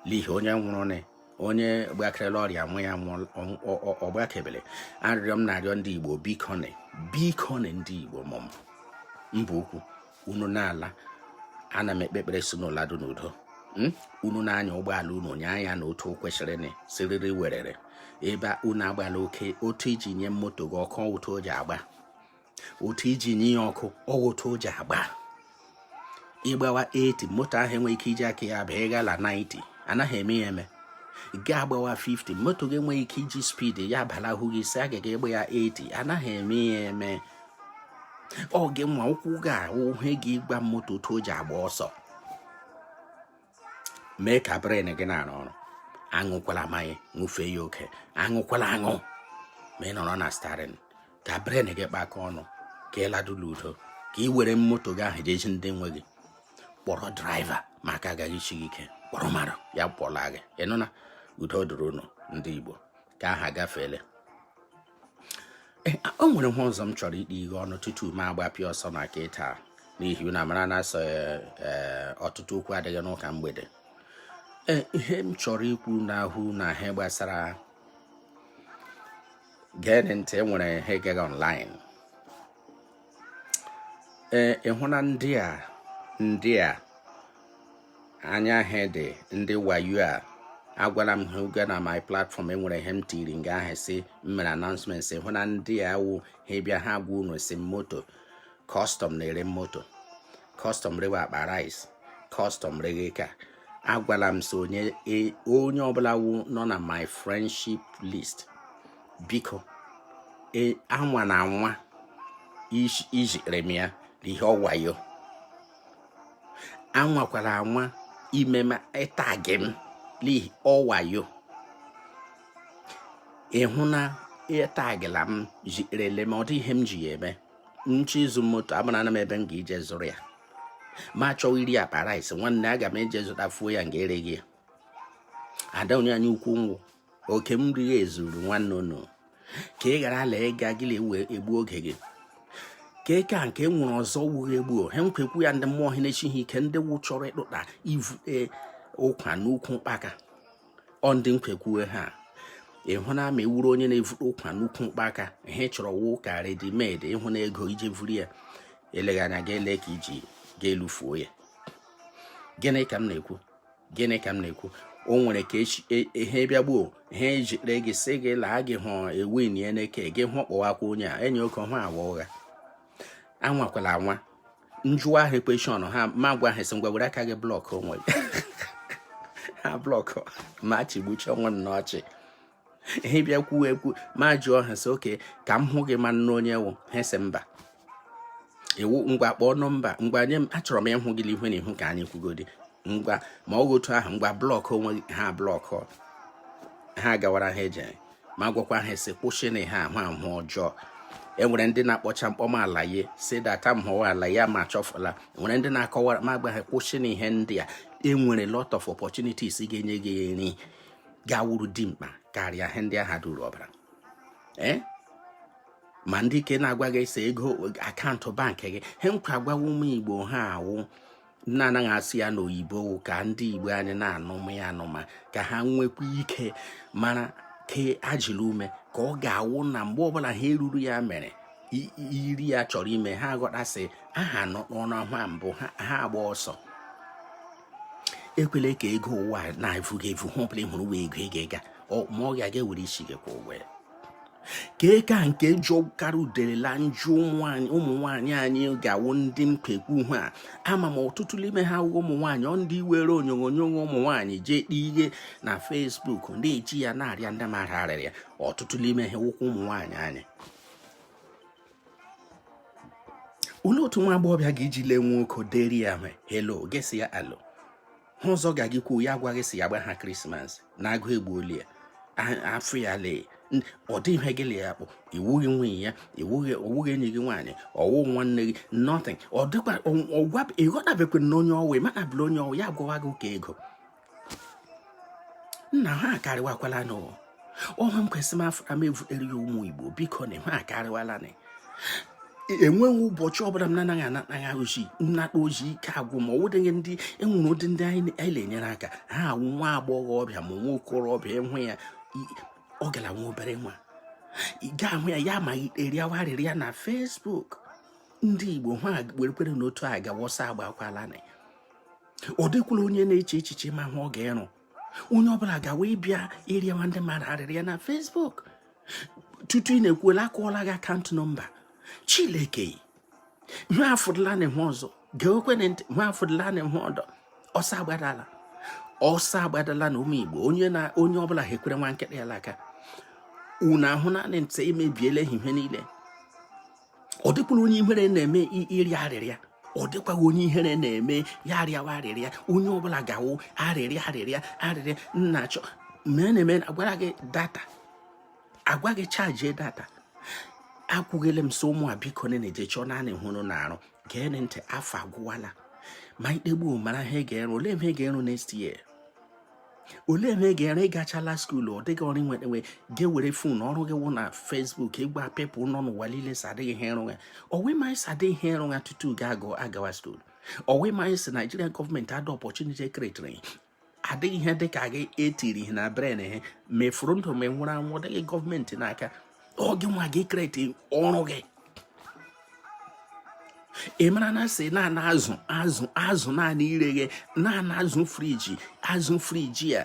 n'ihi onye nwụrụ nị onye gbakere la ọrịa nwụọ ọ gbakebele arịrịọ m na-arịọ ndị igbo bikoni bikoni ndị igbo mụm mba ukwu unu na-ala ana m ekpe ekpere sị unu ladu n'udo hmm? unu na-anya ụgbọala unu nya ya nụ otu o kwesịrị nị siriri werere ebe unu agbala oke otu i ji nye moto gị ọkụ otu o ji agba otu i ji nye ya ọkụ ọ wụ otu o ji agba ịgbawa 80 moto ahụ enweghị ike iji aka ya bịa ịgala 90 anaghị eme ya eme gị agbawa 50 moto gị enweghị ike iji speed ya gbalahụ gị sị ọ gaga ịgba ya 80 anaghị eme ya eme ọ gị nwa ụkwụ gị wụ ihe ga-agwa moto otu o ji agba ọsọ mee ka brain gị na-arụ ọrụ aṅụkwala mmanya ṅụfee ya oke aṅụkwala aṅụ ma ị nọrọ na steering ka brain gị kpakọ ọnụ ka ị ladu la udo ka ị were moto gị ahụ je zi ndị nwe gị kpọrọ driver ma aka agaghị isi gị ike kpọrọ mmadụ ya kpọla gị ị nụna udo dịrị unu ndị Igbo nke ahụ agafeele Eh, o nwere ihe ọzọ m chọrọ ikpe ihe ọnụ tutu m agbapịa ọsọ na nke taa n'ihi na mara na-asị eh, eh, ọtụtụ okwu adịghị n'ụka mgbede ihe m chọrọ ikwu n'ahụ na ihe gbasara geenị ntị enwere ihe gagha online ee ịhụ na ndị a ndị a anya ha dị ndị wayo a agwala m ha oge na my platform enwere ihe m tiri nga ahụ sị m mere announcement sị ịhụ na ndị a wụ ha bịa ha gwa unu sị moto custom na-ere moto custom rewe akpa rice custom reghe ka agwala m sị onye e, onye ọbụla wu nọ na my friendship list biko e, anwana anwa izitere m ya ihe ọwayo anwakwara anwa ime m ịtagị m n'ihe ọwayo ịhụ na ịtagịla m ziterele m ọ dị ihe m ji ya eme m chọọ ịzụ moto abụrụ ana m ebe m ga-ije zụrụ ya m chọọ iri akpa rice nwanne aga m eje zụtafuo ya nga e reghe ya ada onye anyị ukwu nwụ oke m riri ezuru nwanne unu ka ị ghara ala ịga gịlị wee egbu oge gị ka eke a nke nwere ọzọ wughị egbu ha nkwekwu ya ndị mmụọ ha na-echi ha ike ndị wụ chọrọ ịkpụta ivute ụkwa n'ukwu mkpaka ọ ndị nkwekwu ha ịhụ na ị wụrụ onye na-evuru ụkwa n'ukwu mkpaka ihe ị chọrọ wụ ka ready-made ịhụ na ego ije vuru ya eleghị anya ga ele ka iji ga-elufuo ya gịnị ka m na-ekwu gịnị ka m na-ekwu o nwere ka e, ihe bịa gbuo ihe ejikpere gị sị gị laa gị hụ ewin ya n'eke gị hụ kpọwakwa onye a enyi oke hụ awa ụgha anwakwala anwa m jụwa ha question ha ma gwa ha sị ngwa were aka gị block onwe ha block m achịgbucha onwe m n'ọchị ihe bịa kwuo ekwu ma jụọ ha sị okay ka m hụ gị mara onye ị wụ ha sị mba iwu ngwa kpọọ nọmba ngwa nye m achọrọ m ịhụ gị ihu na ihu ka anyị kwugodi ngwa ma ọ otu ahụ ngwa block onwe ha block ha gawara ha eje ma gwakwa ha sị kwụsị na ha ahụ ahụ ọjọọ enwere ndị na-akpọcha m kpọ m alaye si data m hụwa alaye ma achọfụla enwere ndị na-akọwara m agwa ha kwụsị na ihe ndị a enwere lot of opportunities ga-enye gị nri ga-awụrụ dimkpa karịa ihe ndị agha duru ọbara ee eh? ma ndị ike na-agwa gị ese ego account bank gị he nkwa agwawa ụmụ igbo ha awụ na anaghị asụ ya n'oyibo ka ndị igbo anyị na-anụma ya anụma ka ha nwekwa ike mara ke ajịla ume ka ọ ga-awụ na mgbe ọbụla ha eruru ya mere iri ya chọrọ ime ha ghọta sị aha nọ n'ọnụ ahụ mbụ ha agba ọsọ ekwele ka ego ụwa na-evu gị evu ihe ọbụla ị hụrụ wee ego ị ga-ega ma ọ ga-aga ewere isi gị kwụọ ụgwọ ya ka eke a nke jọkara udele la njọ ụmụ nwaanyị anyị ga-awụ ndị mkpekwu hụ a ama m ọtụtụ n'ime ha awụghị ụmụ nwaanyị ọ ndị were onyonyo ụmụ nwaanyị jee kpee ihe na facebook ndị eji ya na-arịa ndị mmadụ arịrịa ọtụtụ n'ime ha wụkwa ụmụ nwaanyị anyị olee otu nwa agbọghọbịa ga-eji lee nwoke deri ya hwe helo gị asị ya alo ihe ọzọ ga-agị kwuo ya agwa gị sị ya gba ha krismas na agụụ egbuola ya afọ ya lee ọ dị ihe gị la ya kpụ iwughị nwunye ya iwughị owughị enyi gị nwaanyị ọwụ nwanne gị nothing ọ dịkwa ịghọtabekwe na onye ọwụ ịmana bụla onye ọwụ ya agwawa gị ụka ego nna ha akarịwakwala nụ ọha m kwesị m afọ m evutere ya ụmụ igbo biko na ha akarịwala na enweghị ụbọchị ọbụla m na-anaghị anataghị ozi nnata ozi ike agwụ m ọ dịghị ndị enwere ụdị ndị anyị na-enyere aka ha awụ nwa agbọghọbịa ma nwa okorobịa ịhụ ya ọ gara nwa obere nwa ị ga-ahụ ya ya amaghị arịawa arịrịa na fesbuk ndị igbo ha werekwere n'otu a ga wọsa agbakwala na ọ dịkwala onye na-eche echiche ma ihe ọ ga-ịrụ onye ọbụla gawa ịbịa ịrịawa ndị mmadụ arịrịa na fesbuk tutu ị na-ekwuola akụọla gị akaụntụ nọmba chileke nwa afụdụla na enwe ọzọ geekwe ntị nwa afụdụla na enwe ọdọ ọsọ agbadala ọsọ agbadala na ụmụ igbo onye na onye ọbụla ha ekwere nwa nkịtị ya aka unu ahụ naanị ntị emebiela ihe niile ọ dịkwara onye ihere na-eme ịrịa arịrịa ọ dịkwaghị onye ihere na-eme ya arịawa arịrịa onye ọbụla ga-awụ arịrịa arịrịa arịrịa nna achọ mee na-eme agwara gị data agwa gị chaji data agwụla m sị ụmụ a biko na-eje chọọ naanị ihe ịrụ na-arụ gee ntị afọ agwụwala ma ikpegbu mara ihe ị ga-ịrụ olee ihe ị ga-ịrụ next year olee na ị ga-ere ịgachala skuulu ọ dịghị ọrụ nwere nwe gị were fon ọrụ gị wụ na fesbuk ịgwa pepụ nọ n'ụwa niile sị adịghị ihe ịrụ ya ọ wụ ị maghị sị adịghị ihe ịrụ ya tutu gị agụ agawa skuulu ọ wụ ị maghị sị naijiria gọọmenti adịghị ọpọchuniti e kretiri adịghị ihe dị ka gị etiri ihe na bren ihe mefuru ndụ ma nwụrụ anwụ dịghị gọọmenti n'aka ọ gị nwa ga-ekreti ọrụ gị ị mara na sị naanị azụ azụ azụ naanị ireghe naanị azụ friji azụ friji ya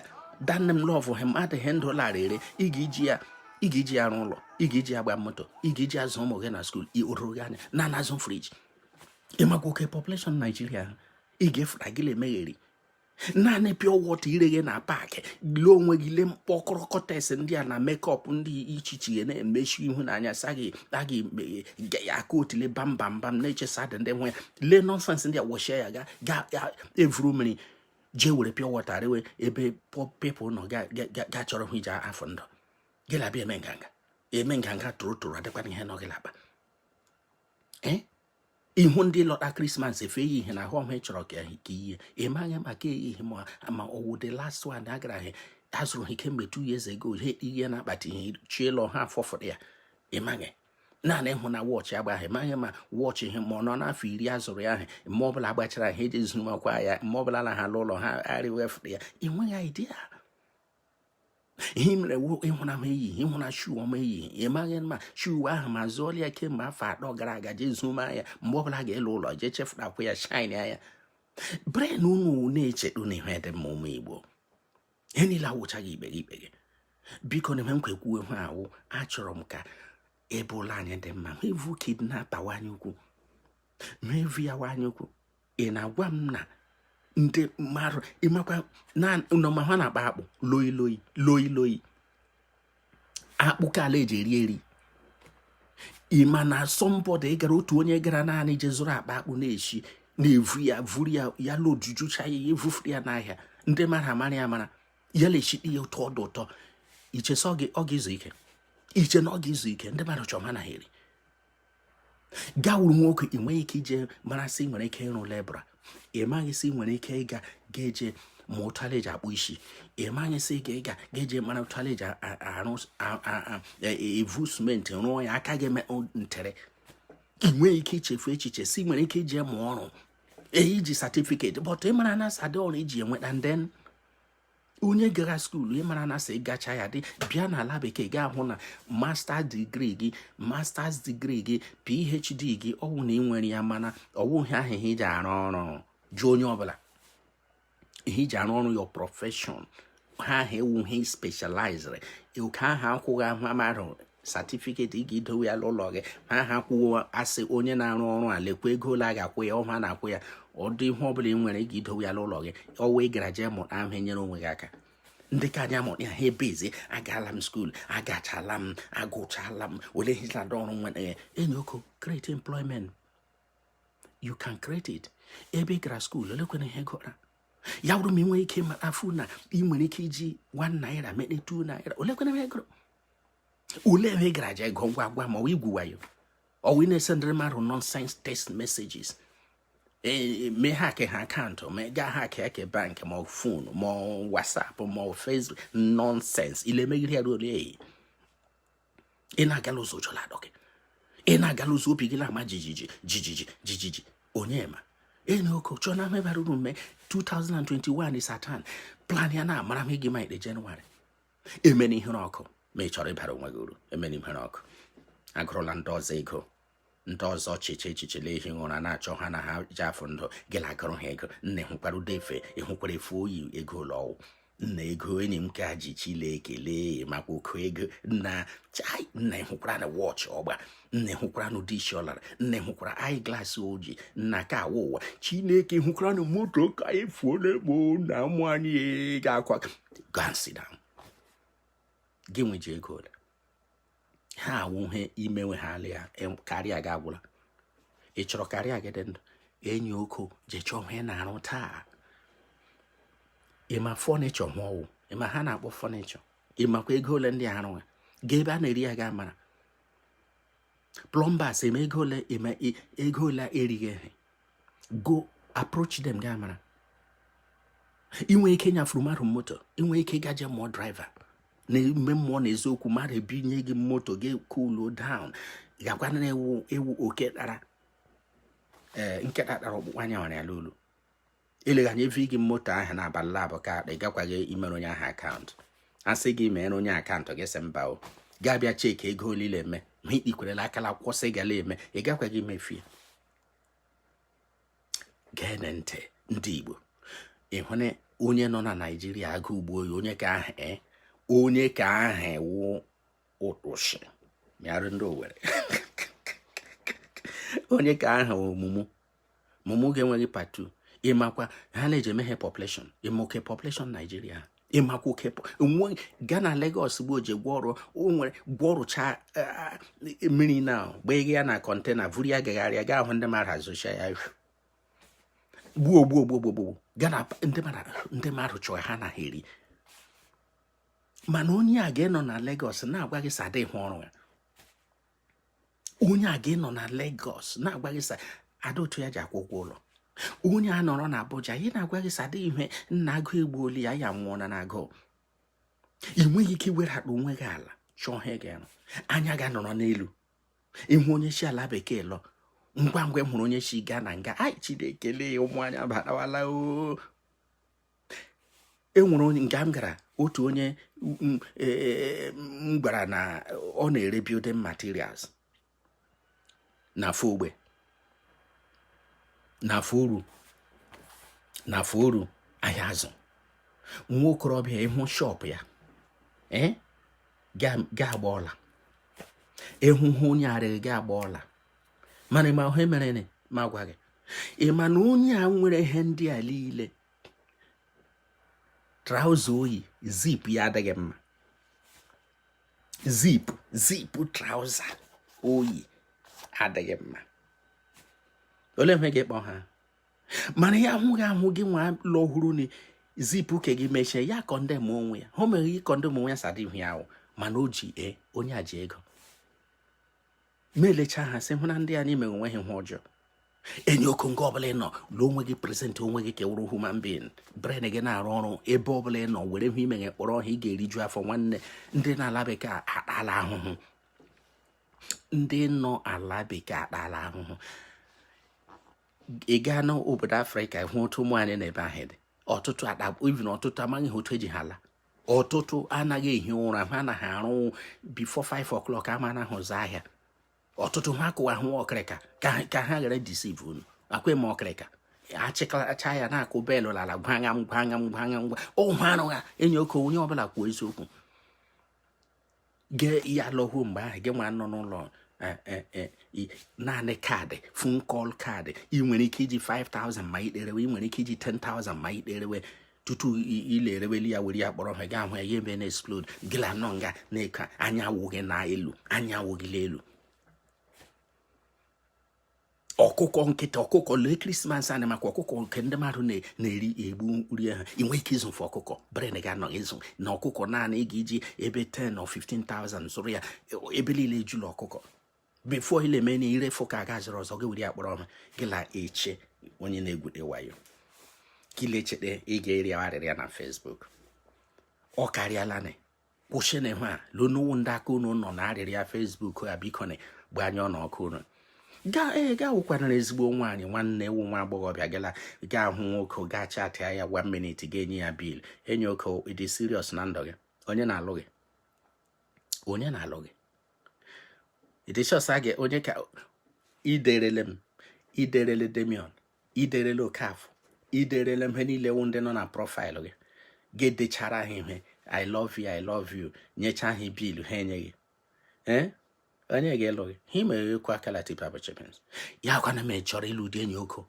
danne m lọvụ ha mmadụ ihe ndụ lara ere ị ga-eji ya ị ga-eji ya arụ ụlọ ị ga-eji ya agba moto ị ga-eji azụ ụmụ gị na skuul o ruru gị anya naanị azụ friji ịmakwa oke population naijiria ị ga-efura gị na-emegheri naanị pịọ wọta ireghe na paakị lee onwe gị lee mkpọkọrọ kọtes ndị a na mekọp dị iche iche a na-emechi ihu n'anya saghị aghị ga ya aka otile bam bam bam na-echesa dị ndị nwe lee nọnsens ndị a wọchie ya ga ga evuru mmiri jee were pịọ wọta rewe ebe pepụl nọ ga chọrọ ihe iji azọ ndụ gị labịa eme nganga eme nganga torotoro adịkwana ihe nọ gị laba ee eh? ị hụ ndị lọta krismas efe ha yi na ahụ ọhụ ị chọrọ ka i yie ị maghị maka ihe ma ọwụ the last one agara ahịa azụrụ ha kemgbe two years ago ihe ihe na-akpata ihe chielọ ha afọfụrụ ya ị maghị naanị ịhụ na wọchị ha gba ị maghị ma wọchị ihe ma ọ nọ n'afọ iri a zụrụ ya ahụ mgbe ọ bụla agbachara ha ejee zumakwa ya mgbe ọ bụla na ha ala ụlọ ha arịwefụrụ ya ị nweghị idea ihe mere ị hụna m eyi ị hụna shuu ọma eyi ị maghị ma shuu ahụ ma zụọla ya kemgbe afọ atọ gara aga jee zuma ya mgbe ọbụla ga-ala ụlọ jee chịfụtakwa ya shine anya brain unu na-echedo na ihe dị mma ụmụ igbo ihe niile awụchaghị ikpe gị ikpe gị biko nụ eme nkwa ekwu ihe a wụ achọrọ m ka ebe ụlọ anyị dị mma ma evu kidnapper wanye ukwu ma evu ya wanye ukwu ị na-agwa m na ndị mmadụ ị makwa na n'ụmahịa a na-akpa akpụ loyi loyi loyi loyi akpụ ka ala eji eri eri ị ma na a somebody gara otu onye gara naanị je zụrụ akpa akpụ na-eshi na-evu ya vuru ya ya lojujucha ya ya evufuru ya n'ahịa ndị mara amara ya mara ya la-eshi ite ya ụtọ ọ dụ ụtọ i che sị ọ ga-ezu ike i che na ọ ga-ezu ike ndị mmadụ chọrọ ha na eri gawuru nwoke ị nweghị ike ije mara sị nwere ike ịrụ labourer ị maghị sị nwere ike ịga ga-eje ma otu ala eji akpụ isi ị maghị sị ga ịga ga-eje mara otu ala eji arụ e, e, evu simenti rụọ ya aka gị ntere ị nweghị ike ichefu echiche si nwere ike ije mụọ ọrụ i ji certificate but ị mara na sadị ọrụ i ji enweta ndị onye gara skuulu ị mara na sị gacha ya dị bịa n'ala bekee ga-ahụ na master degree gị masters degree gị phd gị ọwụ na ị nwere ya mana ọwụghị ahụ ihe i ji arụ ọrụ jụọ onye ọbụla ihe i ji arụ ọrụ your profession ihe ahụ wụ ihe ị specialized oke ahụ akwụghị ahụ amarụ certificate ị ga-edowe ya n'ụlọ gị ma ha kwuo asị onye na-arụ ọrụ a lekwa ego ole a ga-akwụ ya ọ ha na-akwụ ya ọdụ ihe ọ bụla ị nwere ị ga-edowe ya n'ụlọ gị ọwa ị gara jee mụta ahụ enyere onwe gị aka ndị ka anyị amụrụ ya ha ebezi agaala m skuul agachala m agụchala m ole hizlada ọrụ nwere ya enyi oko create employment you can create it ebe ị gara skuul olekwana ihe ị gụra ya bụrụ ma ị nwere ike mara afụ na ị nwere ike iji one naira mete two naira olekwana ihe ị gụrụ ole ebe ị gara je gụọ ngwa gwa m ọ igwu wayo ọwụ ị na-esendịrị mmadụ nonsense text messages e, mee hack ha account ma gaa hack eke bank ma ọ phone ma whatsapp ma ọ facebook nonsense ile megide ya ruo ole eyi ị na-agala ụzọ ụjọ la-atụ gị ị na-agala ụzọ obi gị na-ama jijiji jijiji jijiji onye ma enyi oko chọọ ihe bara uru mee 2021 is atan plan ya na-amara m igi ma ikpe jenụwarị emena ihere ọkụ ma ị chọrọ ịbara onwe gị uru emena ihere ọkụ agụrụla ndị ọzọ ego ndị ọzọ chiche echiche ehi ụra na-achọ ha na ha ji afọ ndụ gị na-agụrụ ha ego nna ịhụkwara ụdị efe ịhụkwara efe o yi ego ole ọ wụ nna ego enyi m ka ji chineke lee makwa oke ego nna chai nna ịhụkwara na wọchị ọ gba nna ịhụkwara nụ ụdị isi ọ lara nna ịhụkwara eye glaasị o yi nna ka awa ụwa chineke hụkwara nụ moto ka anyị fuo n'egbo na ụmụ anyị ga-akwa gansida gị nweji ego ole ha awụhe imenwe ha alị ya karịa gị agwụla ị chọrọ karịa gị dị ndụ enyi oko jee chọọ ihe na-arụ taa ịma fọnichọ ma ọ wụ ịma ha na-akpọ fọnichọ ịmakwa ego ole ndị arụ ha ga ebe a na-eri ya ga amara plọmbas eme ego ole eme ego ole erighị ehe go approach them ga mara i nwe ike nyafuru mmadụ moto i nwe ike gaje mụọ draiva na ime mmụọ na eziokwu mmadụ ebinye gị moto gị cool down gakwa na ewu ewu oke tara ee eh, nkịta tara ọkpụkpụ a nyawara ya n'olu eleghị anya enye gị moto ahụ na abalị labụọ ka ị gakwaghị imere onye ahụ akaụntụ a sị gị mere onye akaụntụ gị sị mba ọ ga-abịa cheki ego ole ị la-eme ma ikpikwerela akala akwụkwọ sị gala eme ị gakwaghị imefu ya gee ntị ndị Igbo ịhụ na onye nọ na Naijiria agụụ gbuo ya onye ka ahụ e, onye ka ahụ wụ ụtụsị mịarụ ndị Owere onye ka ahụ ọ mumu mumu gị enweghị part two ịmakwa ihe a na-eji eme ihe population ịma oke population Naijiria ịmakwa oke nwe gaa na Lagos bụ oje gwọ ọrụ nwere gwọ ọrụcha e, mmiri na gbaa ya na kọntena vuru ya gagharịa ga-ahụ ndị mmadụ azụcha ya gbuo gbuo gbuo gbuo gbuo gaa na ndị mmadụ chọọ ha na ha eri mana onye a ga-anọ na Lagos na-agwa gị sị adịghị ọrụ ya onye a ga-anọ na Lagos na-agwa gị sị adịghị otu ya ji akwụ ụgwọ ụlọ onye a nọrọ na Abuja ya na-agwa gị sị adịghị ihe nna agụụ egbuola ya ya nwụọ na agụụ ị nweghị ike iwedara onwe gị ala chọọ ihe ị ga-arụ anya gị anọrọ n'elu ịhụ onye si ala bekee lọ ngwa ngwa hụrụ onye si Ghana nga anyị chineke lee ụmụ anyị abatawala o e nwere nga m gara otu onye m e, e, e, gwara na ọ na-ere building materials na Afọ Ogbe na Afọ Oru na Afọ Oru Ahiazu nwa okorobịa ịhụ shọpụ ya gị agba ọla ịhụhụ onye arịghị gị agba ọla mana ịma ihe mere m agwa gị ị ma na onye a nwere ihe ndị a niile trouser o yi zip ya adịghị mma zip zip trouser o yi adịghị mma olee ihe ga-ekpọ ha mana ya ahụghị ahụ gị nwa lọ hụrụ na zipu ke gị mechie ya condemn onwe ya o mere gị condemn onwe ya sadị ihu ya ahụ mana o ji e onye a ji ego ma elechaa ha sị hụ na ndị anyị mere onwe ha ihe ọjọọ enyi oko nga ọbụla ị nọ lụọ onwe gị prezentị onwe gị ka ị wụrụ human being brain gị na-arụ ọrụ ebe ọbụla ị nọ were ihe ị meghe kpọrọ ọha ị ga-eriju afọ nwanne ndị nọ ala bekee akpala ahụhụ ndị nọ ala bekee akpala ahụhụ ị gaa n'obodo afrịka hụ otu ụmụ anyị nọ ebe ahụ dị ọtụtụ akpa even ọtụtụ amaghị ha otu eji ha ala ọtụtụ anaghị ehi ụra ha anaghị arụ before 5 o'clock ama na ahụzi ahịa ọtụtụ ha kụwa hụ ọkịrịka ka ha ghara deceive unu akwa eme ọkịrịka achịkọcha ya na-akụ belụ lala gwagha m gwagha m gwagha m gwa ụhụ arụgha enyi oke onye ọbụla kwuo eziokwu gị ya lọhuo mgbe ahụ gị nwa nọ n'ụlọ eh, eh, eh, naanị kaadị phone call kaadị ị nwere ike iji 5000 ma ị derewe ị nwere ike iji 10000 ma ị derewe tutu ilereweli ya were ya kpọrọ ha ga ahụ ya ya ebe na-explode gịla nọ nga na-eke anya awụghị na elu anya awụghịla elu ọkụkọ nkịta ọkụkọ lee krismas anyị maka ọkụkọ nke ndị mmadụ na-eri egbu nri ha ị nwee ike ịzụfe ọkụkọ brain gị anọghị ịzụ na ọkụkọ naanị ị ga-eji ebe 10 or 15,000 zụrụ ya ebe niile ejula ọkụkọ before ile mee na ire fụ ka a ga-azụrụ ọzọ gị were ya kpọrọ ọha gị la eche onye na-egwute wayo kilechete ị ga-arịọ arịrịọ na Facebook ọ karịala na kwụsịna ihe a leonowu ndị aka unu nọ na arịrịọ Facebook a biko na gbanye ọnụ ọkụ unu gaa ee gaa wụkwanara ezigbo nwaanyị nwanne ewu nwa agbọghọbịa gala gaa hụ nwoke gaa chatịa ya one minute ga-enye ya bill enyi oke ị dị serious na ndụ gị onye na-alụ gị onye na-alụ gị ịdịchọsa gị onye ka i derele m i derele Damian i derele Okafọ i derele ihe niile wụ ndị nọ na profaịlụ gị gị dechara ha ihe i love you i love you nyecha ha bill ha enyeghị ee eh? onye ga-alụ gị ha imere ekwu akala tipa bụ chepens ya kwana m chọrọ ịlụ ụdị enyi oko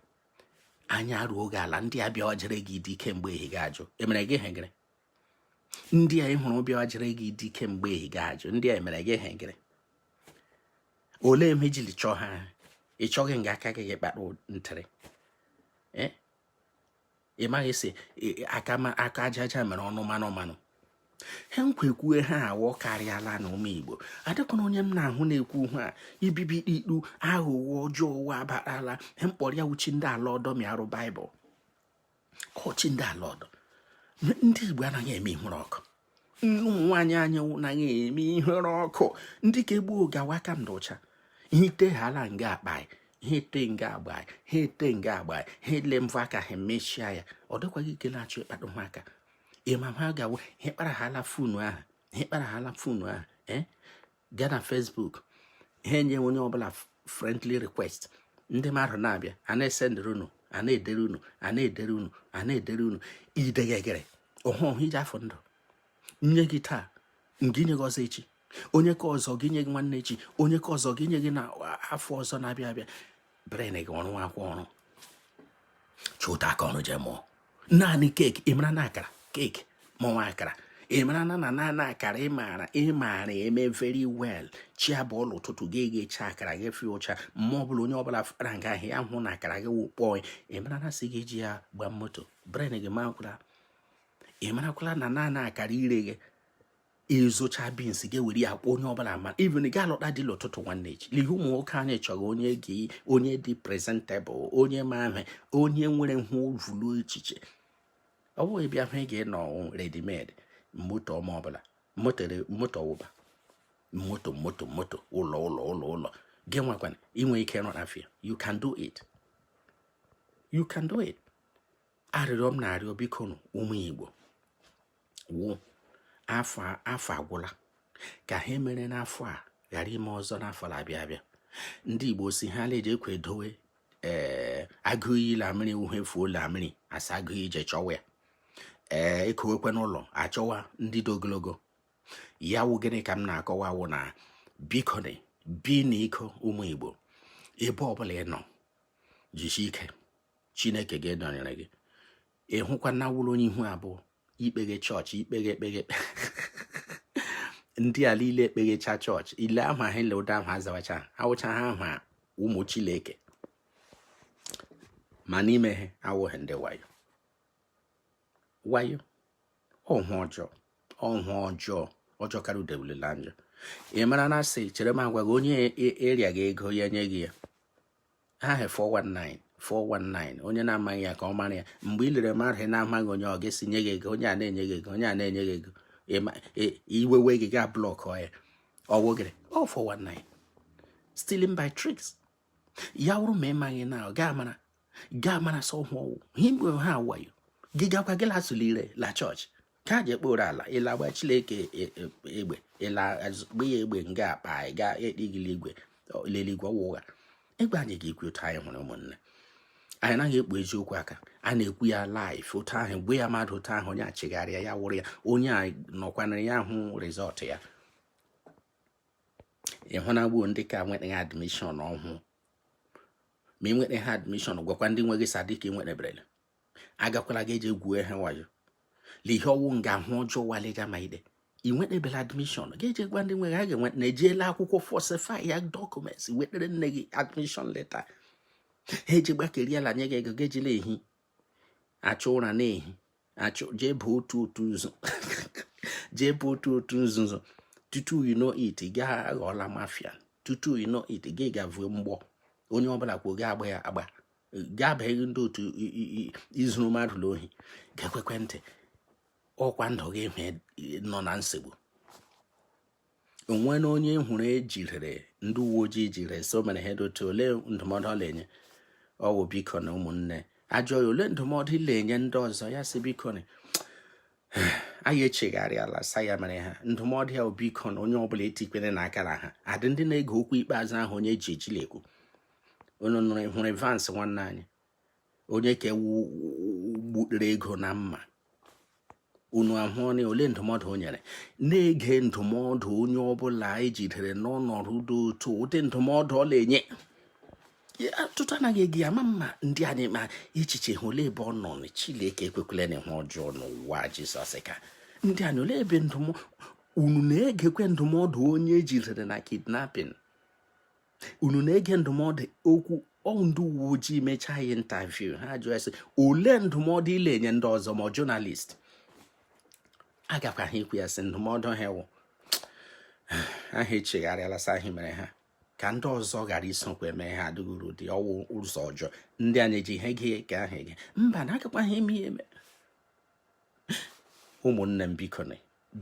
anya ruo gị ala ndị abịa ọjere gị di kemgbe ehi gị ajụ emere gị hegere ndị a ị hụrụ bịa jere gị di kemgbe ehi gị ajụ ndị a mere gị ihe gịrị olee ihe i jili chọọ ha ị chọghị nga aka gị gị kpara ntịrị eh? ị maghị si aka aja aja mere ọnụ mmanụ mmanụ ha nkwekwue ha awọ karịala na ụmụ igbo adịkwana onye m na-ahụ na-ekwu ha ibibi ikpu aghụghọ ọjọọ ụwa abarala ha mkpọrọ ya wụ chi ndị ala ọdọ marụ baịbụl kọ chi ndị ala ọdọ ndị igbo anaghị eme ihere ọkụ ụmụ nwaanyị anyị anaghị eme ihere ọkụ ndị ka egbu oge awa aka dị ụcha ihe ite ha ala nga akpa anyị ha ete nga agba anyị ha ete nga agba anyị ha ele mvọ aka ha emechia ya ọ dịkwaghị ike na-achọ ịkpado ha aka ị ma ha gawo ihe kpara ha ala fonu ahụ ihe kpara ha ala fonu ahụ ee eh? gaa na Facebook ha enye onye ọbụla friendly request ndị mmadụ na-abịa a na-esendịrị unu a na-edere unu a na-edere unu a na-edere unu idegegere ọhụ ọhụ iji afọ ndụ nye gị taa nke inye gị ọzọ echi onye ke ọzọ ga-enye gị nwanne echi onye ke ọzọ ga-enye gị na afọ ọzọ na-abịa abịa bren gị ọ rụkwa ọrụ chụta aka ọrụ jee mụọ naanị keeki ị mara na akara keeki mụnwa akara ị mara na na naanị akara ị maara ị maara eme very well chi abọọla ụtụtụ gị ga-eghecha akara gị fee ụcha ma ọ bụla onye ọbụla fara nga ahụ ya hụ na akara gị wụkpọọ ị mara na sị gị ji ya gbaa moto bren gị makwụla ị marakwala na naanị akara ire gị ị zụcha bins ga-ewere ya kpọọ onye ọbụla ma even gị alụta di la ụtụtụ nwanne echi n'ihi ụmụ nwoke anyị chọrọ onye dị onye dị prezentebụl onye ma ahụ onye nwere ụvụlụ echiche ọ bụghị bịa hụ ị ga-enọ redimed moto ọma ọbụla moto wụba moto moto moto ụlọ ụlọ ụlọ ụlọ gị nwakwana i nwe ike nọ n'afịa you can do it you can do it arịrịọ m na-arịọ biko ụmụ Igbo wụ afọ afọ agwụla ka ha mere n'afọ a ghara ime ọzọ n'afọ na-abịa abịa ndị Igbo sị ha na-eji ekwe edowe ee eh, agụ iyi la mmiri wụ ihe fuo la mmiri a sị agụ jee chọwa ya ee eh, e kowekwe n'ụlọ a chọwa ndị dị ogologo ya wụ gịnị ka m na-akọwa wụ na biko na bi n'iko ụmụ Igbo ebe ọbụla ị nọ jisi ike Chineke ga-edonyere gị ị hụkwa na wụrụ onye ihu abụọ i kpeghe chọọchị i kpeghe ekpeghe ndị ala ile ekpeghecha chọọchị ile aha ahụ ile ụdị aha azawacha awụcha ha ahụ ụmụ chileke ma n'ime ha awụghị ndị wayo wayo ọhụ ọjọọ ọhụ ọjọọ ọ jọkarịa devil la njọ ị mara na a sị chere m agwa gị onye eria gị ego ya nye gị ya ha he 419 419 onye na-amaghị ya ka ọ mara ya mgbe ị lere mmadụ na-amaghị onye ọ ga-esi nye gị ego onye a na-enye gị ego onye a na-enye gị ego iwe wee gị gaa blọkụ ya ọ wụ gịrị ọ 419 stealing by tricks ya wụrụ ma ị maghị na ọ gaa mara gaa mara sa ahụ ọ wụ ha wayo gị gakwa gị la-asụ l'ire la chọọchị ka ji ekporo ala ị la-agba Chineke e, e, egbe ị la-agba ya egbe nga akpa anyị gaa ekpegili igwe l'eligwe ọwa ụgha egbe anyị ga-ekwu otu anyị hụrụ ụmụnne anyị anaghị ekpu eziokwu aka a na-ekwu ya laif otu ahụ gwa ya mmadụ otu ahụ onye echegharịa ya wụrụ ya onye a nọkwanara ya hụ rizọtụ ya ị hụna gbuo ndị ka nwetaghị admishọn ọhụụ ma ị nweta ha admishọn gwakwa ndị nwe gị sa dị ka ị nweteberele agakwala gị eje gwue ha wayo lee ihe ọ wụ nga ahụ ọjọọ waliga ma i dee ị nwetebela admishọn gị eje gwa ndị nwe gị ha ga-enwe na ejiela akwụkwọ falsify ya dọkụmenti wetere nne gị admishọn leta ha eje gbakeriela nye gị ego gị ejila ehi achọ ụra na-ehi achọ jee baa otu otu nzu jee baa otu otu nzuzo tutu you know it gị aghọọla mafia tutu you know it gị gaa vue mgbọ onye ọbụla kwuo gị agba ya agba gị abaghị ndị otu izuru mmadụ n'ohi gị egekwe ntị ọkwa ndụ gị hụ nọ na nsogbu o nwena onye hụrụ e jidere ndị uwe ojii jide so mere ha dote ole ndụmọdụ ọ na-enye ọ wụ biko na ụmụnne a jụọ ya ole ndụmọdụ ị na-enye ndị ọzọ ya sị biko na anyị echegharịala sa ya mere ha ndụmọdụ ya biko na onye ọbụla etikwerena aka na ha adị ndị na-ege okwu ikpeazụ ahụ onye e ji eji la-ekwu unu nụrụ hụrụ Evans nwanne anyị onye ka ewu gbutere ego na mma unu ahụọna ole ndụmọdụ o nyere na-ege ndụmọdụ onye ọbụla e jidere n'ọnọdụ dị otu ụdị ndụmọdụ ọ na-enye ọtụtụ anaghị ege ya amama m ndị anyị ma echiche ha ole ebe ọ nọ na Chineke ekwekwelena ihe ọjọọ n'aha Jizọs ka ndị anyị ole ebe ndụmọdụ unu na-egekwe ndụmọdụ onye e jidere na kidnapping unu na-ege ndụmọdụ okwu ọ wụ ndị uwe ojii mechaa ya intaviu ha jụọ sị ole ndụmọdụ ị la-enye ndị ọzọ ma jọnalist agakwa ha ikwu ya sị ndụmọdụ ha wụ a ha echegharịala sa ahụ mere ha ka ndị ọzọ ghara isokwa eme ha adịghị uru dị ọ wụ ụzọ ọjọọ ndị a na-ege ihe dị ka ahụ ege mba na agakwa ha eme ya eme ụmụnne m bikoni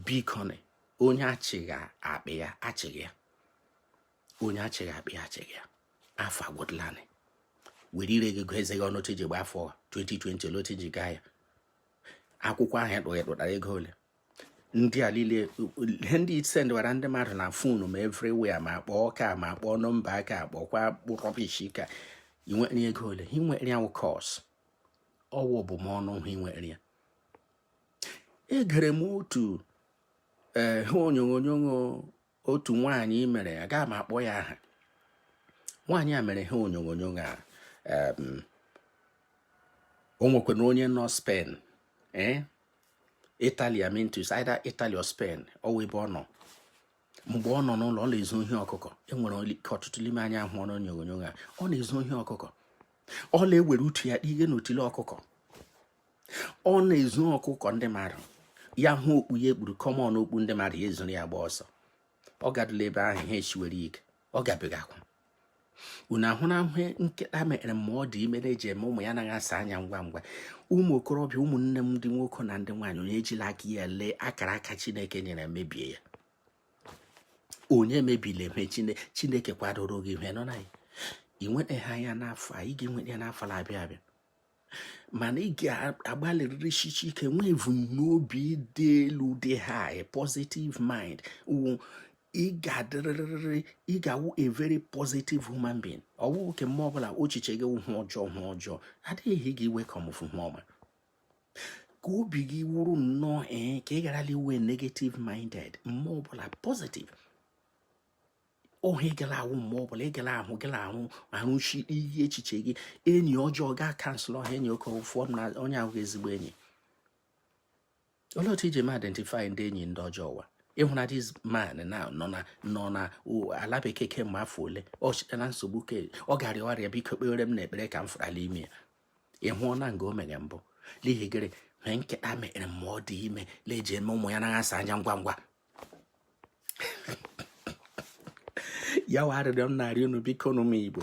bikoni onye achịghị akpị ya achịghị ya onye achịghị akpị achịghị ya afọ agwụdịlanị were ire gị gụọ eze gị ọnụ otu i ji gba afọ 2020 olee otu i ji gaa ya akwụkwọ ahụ ị kpụ ị kpụtara ego ole ndị a niile ihe ndị ị sendịwara ndị mmadụ na fonu ma everywhere ma kpọọ ka ma kpọọ nọmba aka kpọkwa rubbish ka i nwere ego ole i nwere ya cos ọ wụ abụmọnụ ahụ i nwere ya egere m otu eh, ihe onyonyo otu nwaanyị mere agaghị m akpọ ya aha nwaanyị a mere ihe onyonyo a o nwekwana onye nọ Spain eh? Italy I mean it's either Italy or Spain ọ wụ ebe ọ nọ mgbe ọ nọ n'ụlọ ọ na-ezu ohi ọkụkọ e nwere ike ọtụtụ n'ime anyị hụrụ onyonyo a ọ na-ezu ohi ọkụkọ ọ na-ewere utu ya ihe n'otile ọkụkọ ọ na-ezu ọkụkọ ndị mmadụ ya hụ okpu ya ekpuru common okpu ndị mmadụ ya ezuru ya gba ọsọ ọ gadụla ebe ahụ ihe esiwere ike ọ ga-ebega akwa unu ahụna ihe nkịta mere ma ọ dị ime na-eji eme ụmụ ya anaghị asa anya ngwa ngwa ụmụ okorobịa ụmụnne m ndị nwoke na ndị nwaanyị onye ejila aka ya le akara aka chineke nyere mebie ya onye emebile ihe chineke kwadoro gị ihe nọ na ya i nwetaghị ya n'afọ a ị ga-enweta ya n'afọ na-abịa abịa mana ị ga-agbalịrịrị sisie ike nwee ebumnobi dị elu dị high positive mind wụ ị ga-adịrịrị ị ga-awụ a very positive human being ọ bụghị ke mma ọbụla echiche gị ihe ọjọọ ihe ọjọọ adịghị gị iwe ka ọmụfụ ihe ọma ka obi gị wụrụ nnọọ ee eh, ka ị gharala ịwụ negative minded mma ọbụla positive ọ ihe ị gala awụ mgbe ọ bụla ị gala ahụ gala arụchi ihe echiche gị enyi ọjọọ gaa kansụl ọha enyi oke ụfọm na onye ahụ ezigbo enyi olee otu iji ma identify ndị enyi ndị ọjọọ ụwa ị hụna this man na nọ na nọ na ala bekee kemgbe afọ ole ọ chịtana nsogbu ke ọ gara ọrịa biko kpeere m nụ ekpere ka m fụra la ime ya ị hụna nga o mere mbụ n'ihi gịrị ihe nkịta mere ma ọ dị ime le eji eme ụmụ ya anaghị asa anya ngwa ngwa ya wụ arịrịọ m na-arị unu bikonụ ụmụ igbo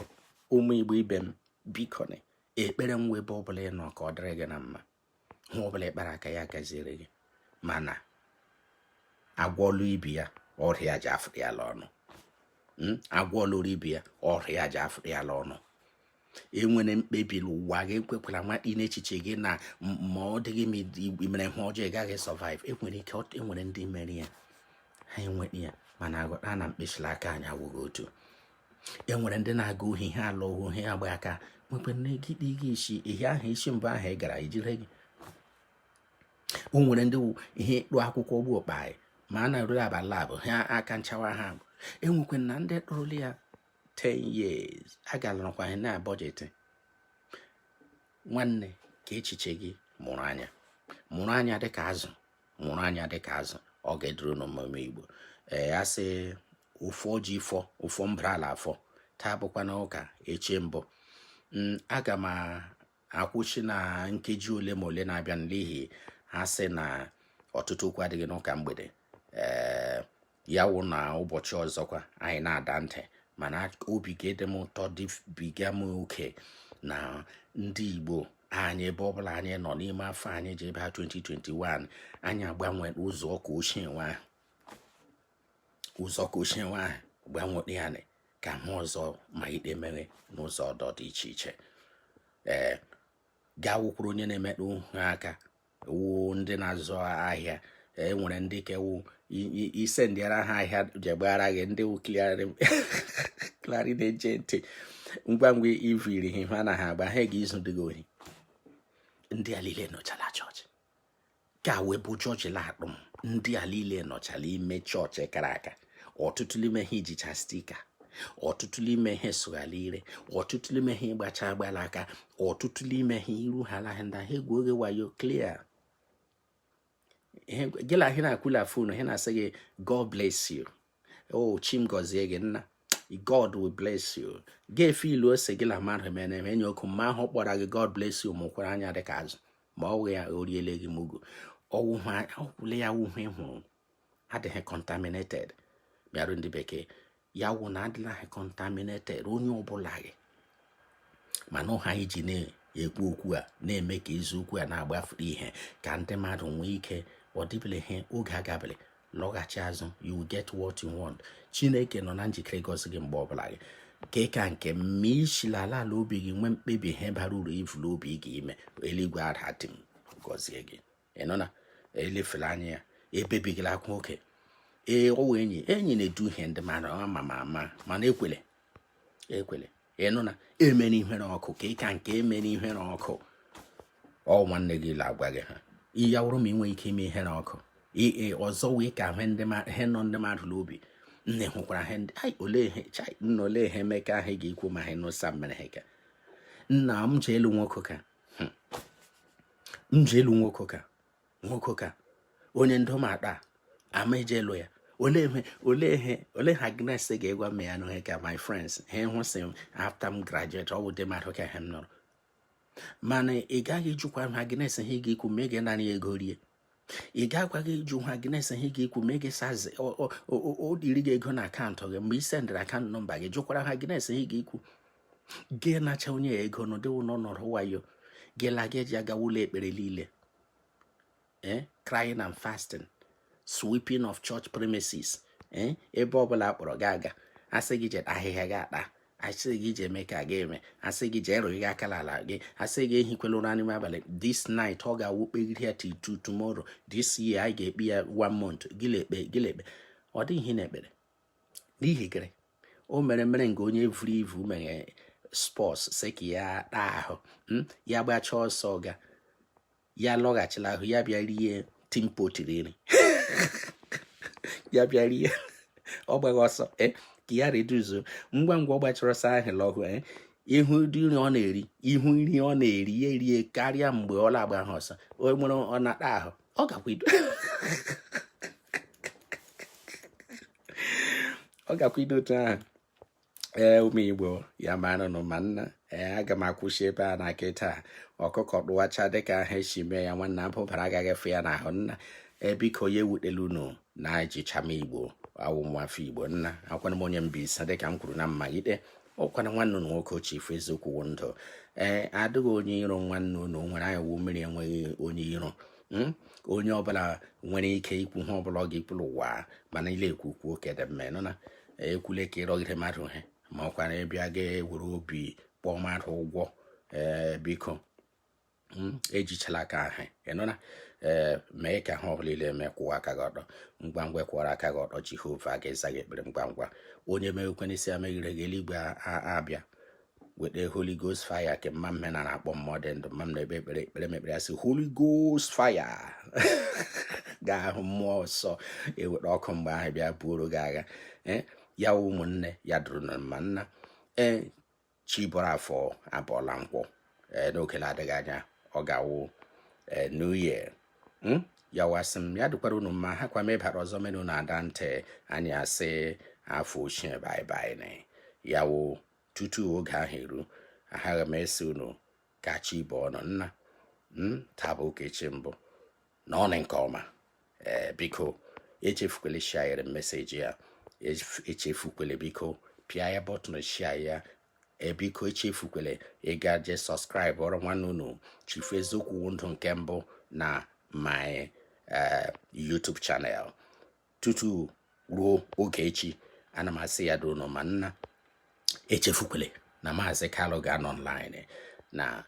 ụmụ igbo ibe m bikonụ ekpere m wụ ebe ọbụla ị nọ ka ọ dịrị gị na mma ihe ọbụla ị kpara aka ya gaziere gị mana agwa ọlụ ibi ya ọrịa ji afụrụ ya la ọnụ hmm? agwa ọlụrụ ibi ya ọrịa ji afụrụ ya la ọnụ enwere mkpebi n'ụwa gị ekwekwala nwakpi n'echiche gị na ma ọ dịghị ma i mere ihe ọjọọ ị gaghị survive enwere ike enwere ndị mere ya ha enweghị ya mana ghọta na mkpịsịla aka anyị awụghị otu enwere ndị na-aga ohi ha alụ ohu ha agba aka nwekwara na gị dị gị isi ihe ahụ isi mbụ ahụ ị gara e jire gị o nwere ndị ihe ịkpụ akwụkwọ bụ okpa anyị ma a na-erule abalị abụọ ha aka achawa ha enwekwe na ndị kpụrụla ya 10 years a galarụkwa ha na budget nwanne ka echiche gị mụrụ anya mụrụ anya dịka azụ mụrụ anya dịka azụ ọ ga-eduru n'omume igbo ee a sị ụfọ ji fọ ụfọ mbara ala afọ taa bụkwa na ụka echi bụ mm, aga m akwụsị na nkeji ole ma ole na-abịa n'ihu ha sị na ọtụtụ okwu adịghị n'ụka mgbede ee ya wụ na ụbọchị ọzọkwa anyị na-ada ntị mana obi ga-adị m ụtọ dịbiga m oke na ndị Igbo anyị ebe ọbụla anyị nọ n'ime afọ anyị ji aba a 2021 anyị agbanwe ụzọ nke ochie nwa ahụ gbanwe ya ka a hụ ọzọ ma ikpe mere n'ụzọ ọdọ dị iche iche ee gaa wụkwuru onye na-emetụ ha aka wụ ndị na-azụ ahịa e nwere ndị ke wụ i sendịara ha ahịa jegbara gị ndị wụ clearing agent ngwa ngwa ivuru ihe ha na ha agba ha ga-ezudi gị ohi ndị a niile nọchala chọọchị ka wee bụ chọọchị laakpụ m ndị a niile nọchala ime chọọchị kara aka ọtụtụ n'ime ha jicha sticker ọtụtụ n'ime ha asụghala ire ọtụtụ n'ime ha gbacha mgbalaka ọtụtụ n'ime ha iru ha laghị ndị ha egwu gị wayo clear gị na ha na-ekwu la phone ha na-asị gị god bless you o oh, chim gọzie gị nna god will bless you ga-efe ilu ọ sị gị na mmadụ mere eme enye okwu mma ahụ kpọrọ gị god bless you mụkwara anya dịka azụ ma ọ wụ ya o riele gị mugu ọwụwa ọkwụle ya wụ ihe ị hụrụ adịghị contaminated bịarụ ndị bekee ya wụ na adịlaghị contaminated onye ọbụla gị mana ihe anyị ji na-ekwu okwu a na-eme ka eziokwu a na-agbafuru ihe ka ndị mmadụ nwee ike ọ dịbele ihe oge agabele lọghachi azụ you will get what you want chineke nọ na njikere ịgọzi gị mgbe ọbụla gị nke ka nke mma i si la ala ala obi gị nwee mkpebi ihe bara uru i vu la obi gị ime eluigwe ada dị m gọzie gị ịnụ na elefela anya ya ebebigila akwa oke ee ọ wụ enyi enyi na-edu ihe ndị mara ama ma ama mana ekwele ekwele ịnụ na emere ihere ọkụ ka ịka nke emere ihere ọkụ ọ nwanne gị la agwa gị ihe ya wụrụ ma ị nwee ike ime ihere ọkụ ee ọzọ wee ka a hụ ihe nọ ndị mmadụ n'obi nne hụkwara ha ndị ai olee ihe chai nna olee ihe Emeka ha ga-ekwu ma ha nụsa mere ha ka nna m ji ịlụ nwoke ka hmm. m ji ịlụ nwoke ka nwoke ka onye ndụ m akpa ama eje ịlụ ya olee ihe olee ihe olee ihe Agnes ga-egwa m ya n'ohe ka my friends ha hụsị m after m graduate ọ bụ ụdị mmadụ ka ha m nọrọ mana ị gaghị ịjụkwa ihe Agnes ha ga-ekwu ma ị ga-anarị ego rie ị gakwaghị ịjụ ihe Agnes ha ga-ekwu ma ị gị sazi o diri gị ego na akaụntụ gị mgbe ị sendịrị akaụntụ nọmba gị jụkwara ihe Agnes ha ga-ekwu gị nacha onye ya ego n'ụdị wụ n'ọnọdụ wayo gị la gị eji agawa ụlọ ekpere niile eh, crying and fasting sweeping of church premises eh, ebe ọbụla akpọrọ gị aga asị gị je kpa ahịhịa gị akpa asị gị je eme ka gị eme asị gị je erụghị aka n'ala gị asị gị ehikwela ụra n'ime abalị this night ọ ga-awụ kpegide ya till tomorrow this year anyị ga-ekpe ya one month gị la-ekpe gị la-ekpe ọ dịghị ihe na-ekpere n'ihi gịrị o mere mere nke onye vuru ivu mere sports sị ka ya taa ahụ hmm? ya gbachaa ọsọ ga ya lọghachila ahụ ya bịa rie timpo tiri nri ya bịa rie ọ gbaghị ọsọ eh, ka ya reduzuo ngwa ngwa ọ gbachara ọsọ ahụ lọhụ eh, ị hụ ụdị nri ọ na-eri ị hụ nri ọ na-eri ya erie karịa mgbe ọ na-agbahụ ọsọ o nwere ọ na-ata ahụ ọ gakwa ido ọ gakwa ido otu ahụ ee ụmụ igbo ya maranụ mma nna ee aga m akwụsị ebe a na kịta ọkụkọ dụwacha dịka ha esi mee ya nwanna abụbara agaghị efe ya n'ahụ nna biko ya ewutela unu na ejicha m igbo awụ nwafọ igbo nna akwana m onye Mbaise dịka m kwuru na mmalite ọkwana nwanne unu nwoke ochie ife eziokwu wụ ndụ ee ọ dịghị onye iro nwanne unu nwere anyị wụ mmiri enweghị onye iro Hmm? onye ọbụla nwere ike ikwu ihe ọbụla ọ ga-ekwuru ụwa mana ị la-ekwu kwuo nke dị mma ịnụna ekwule ka ịrọgide mmadụ ihe ma ọkwa na ịbịa ga-ewere obi kpọọ mmadụ ụgwọ ee biko hmm, ejichala aka ahụ ịnụna ee mee ka ihe ọbụla ị la-eme kwụwa aka gị ọtọ ngwa ngwa kwụwara aka gị ọtọ jehova ga-eza gị ekpere ngwa ngwa onye meghekwe n'isi emeghere gị eluigwe abịa weta holy ghost fire ke mma mme na na-akpọ mmụọ dị ndụ mma m na-ekpe ekpere ekpere m ekpere asị holy ghost fire ga-awụ mmụọ nsọ eweta ọkụ mgbe ahụ bịa buoro gị agha eh, ya ụmụnne ya dịrị unu mma nna ee eh, chi bọrọ afọ abọọla nkwọ eh, n'oge na-adịghị anya ọ ga-awụ new year hmm? ya wụ asị m ya dịkwara unu mma ha kwa mebara ọzọ menu na-ada ntị anyị asị afọ ochie bye bye ya wụ tutu oge ahụ eru aghaghị m ịsị unu ka chi bọọ nụ nna hmm, taa bụ ụka echi mbụ na ọnụ nke ọma ee eh, biko echefukwele share message a echefukwele biko pịa ya button share ya biko echefukwele ịga je subscribe ọrụ nwanne unu Chief Eziokwu Ndụ nke mbụ na my uh, YouTube channel. tutu ruo oge echi ana m asị ya dị unu mma nna echefukwele na maazị Kalu ga-anọ online na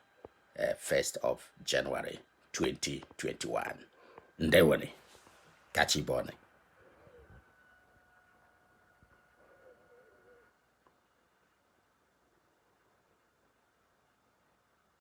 1st eh, of January 2021 ndewonụ ka chi bọọ nụ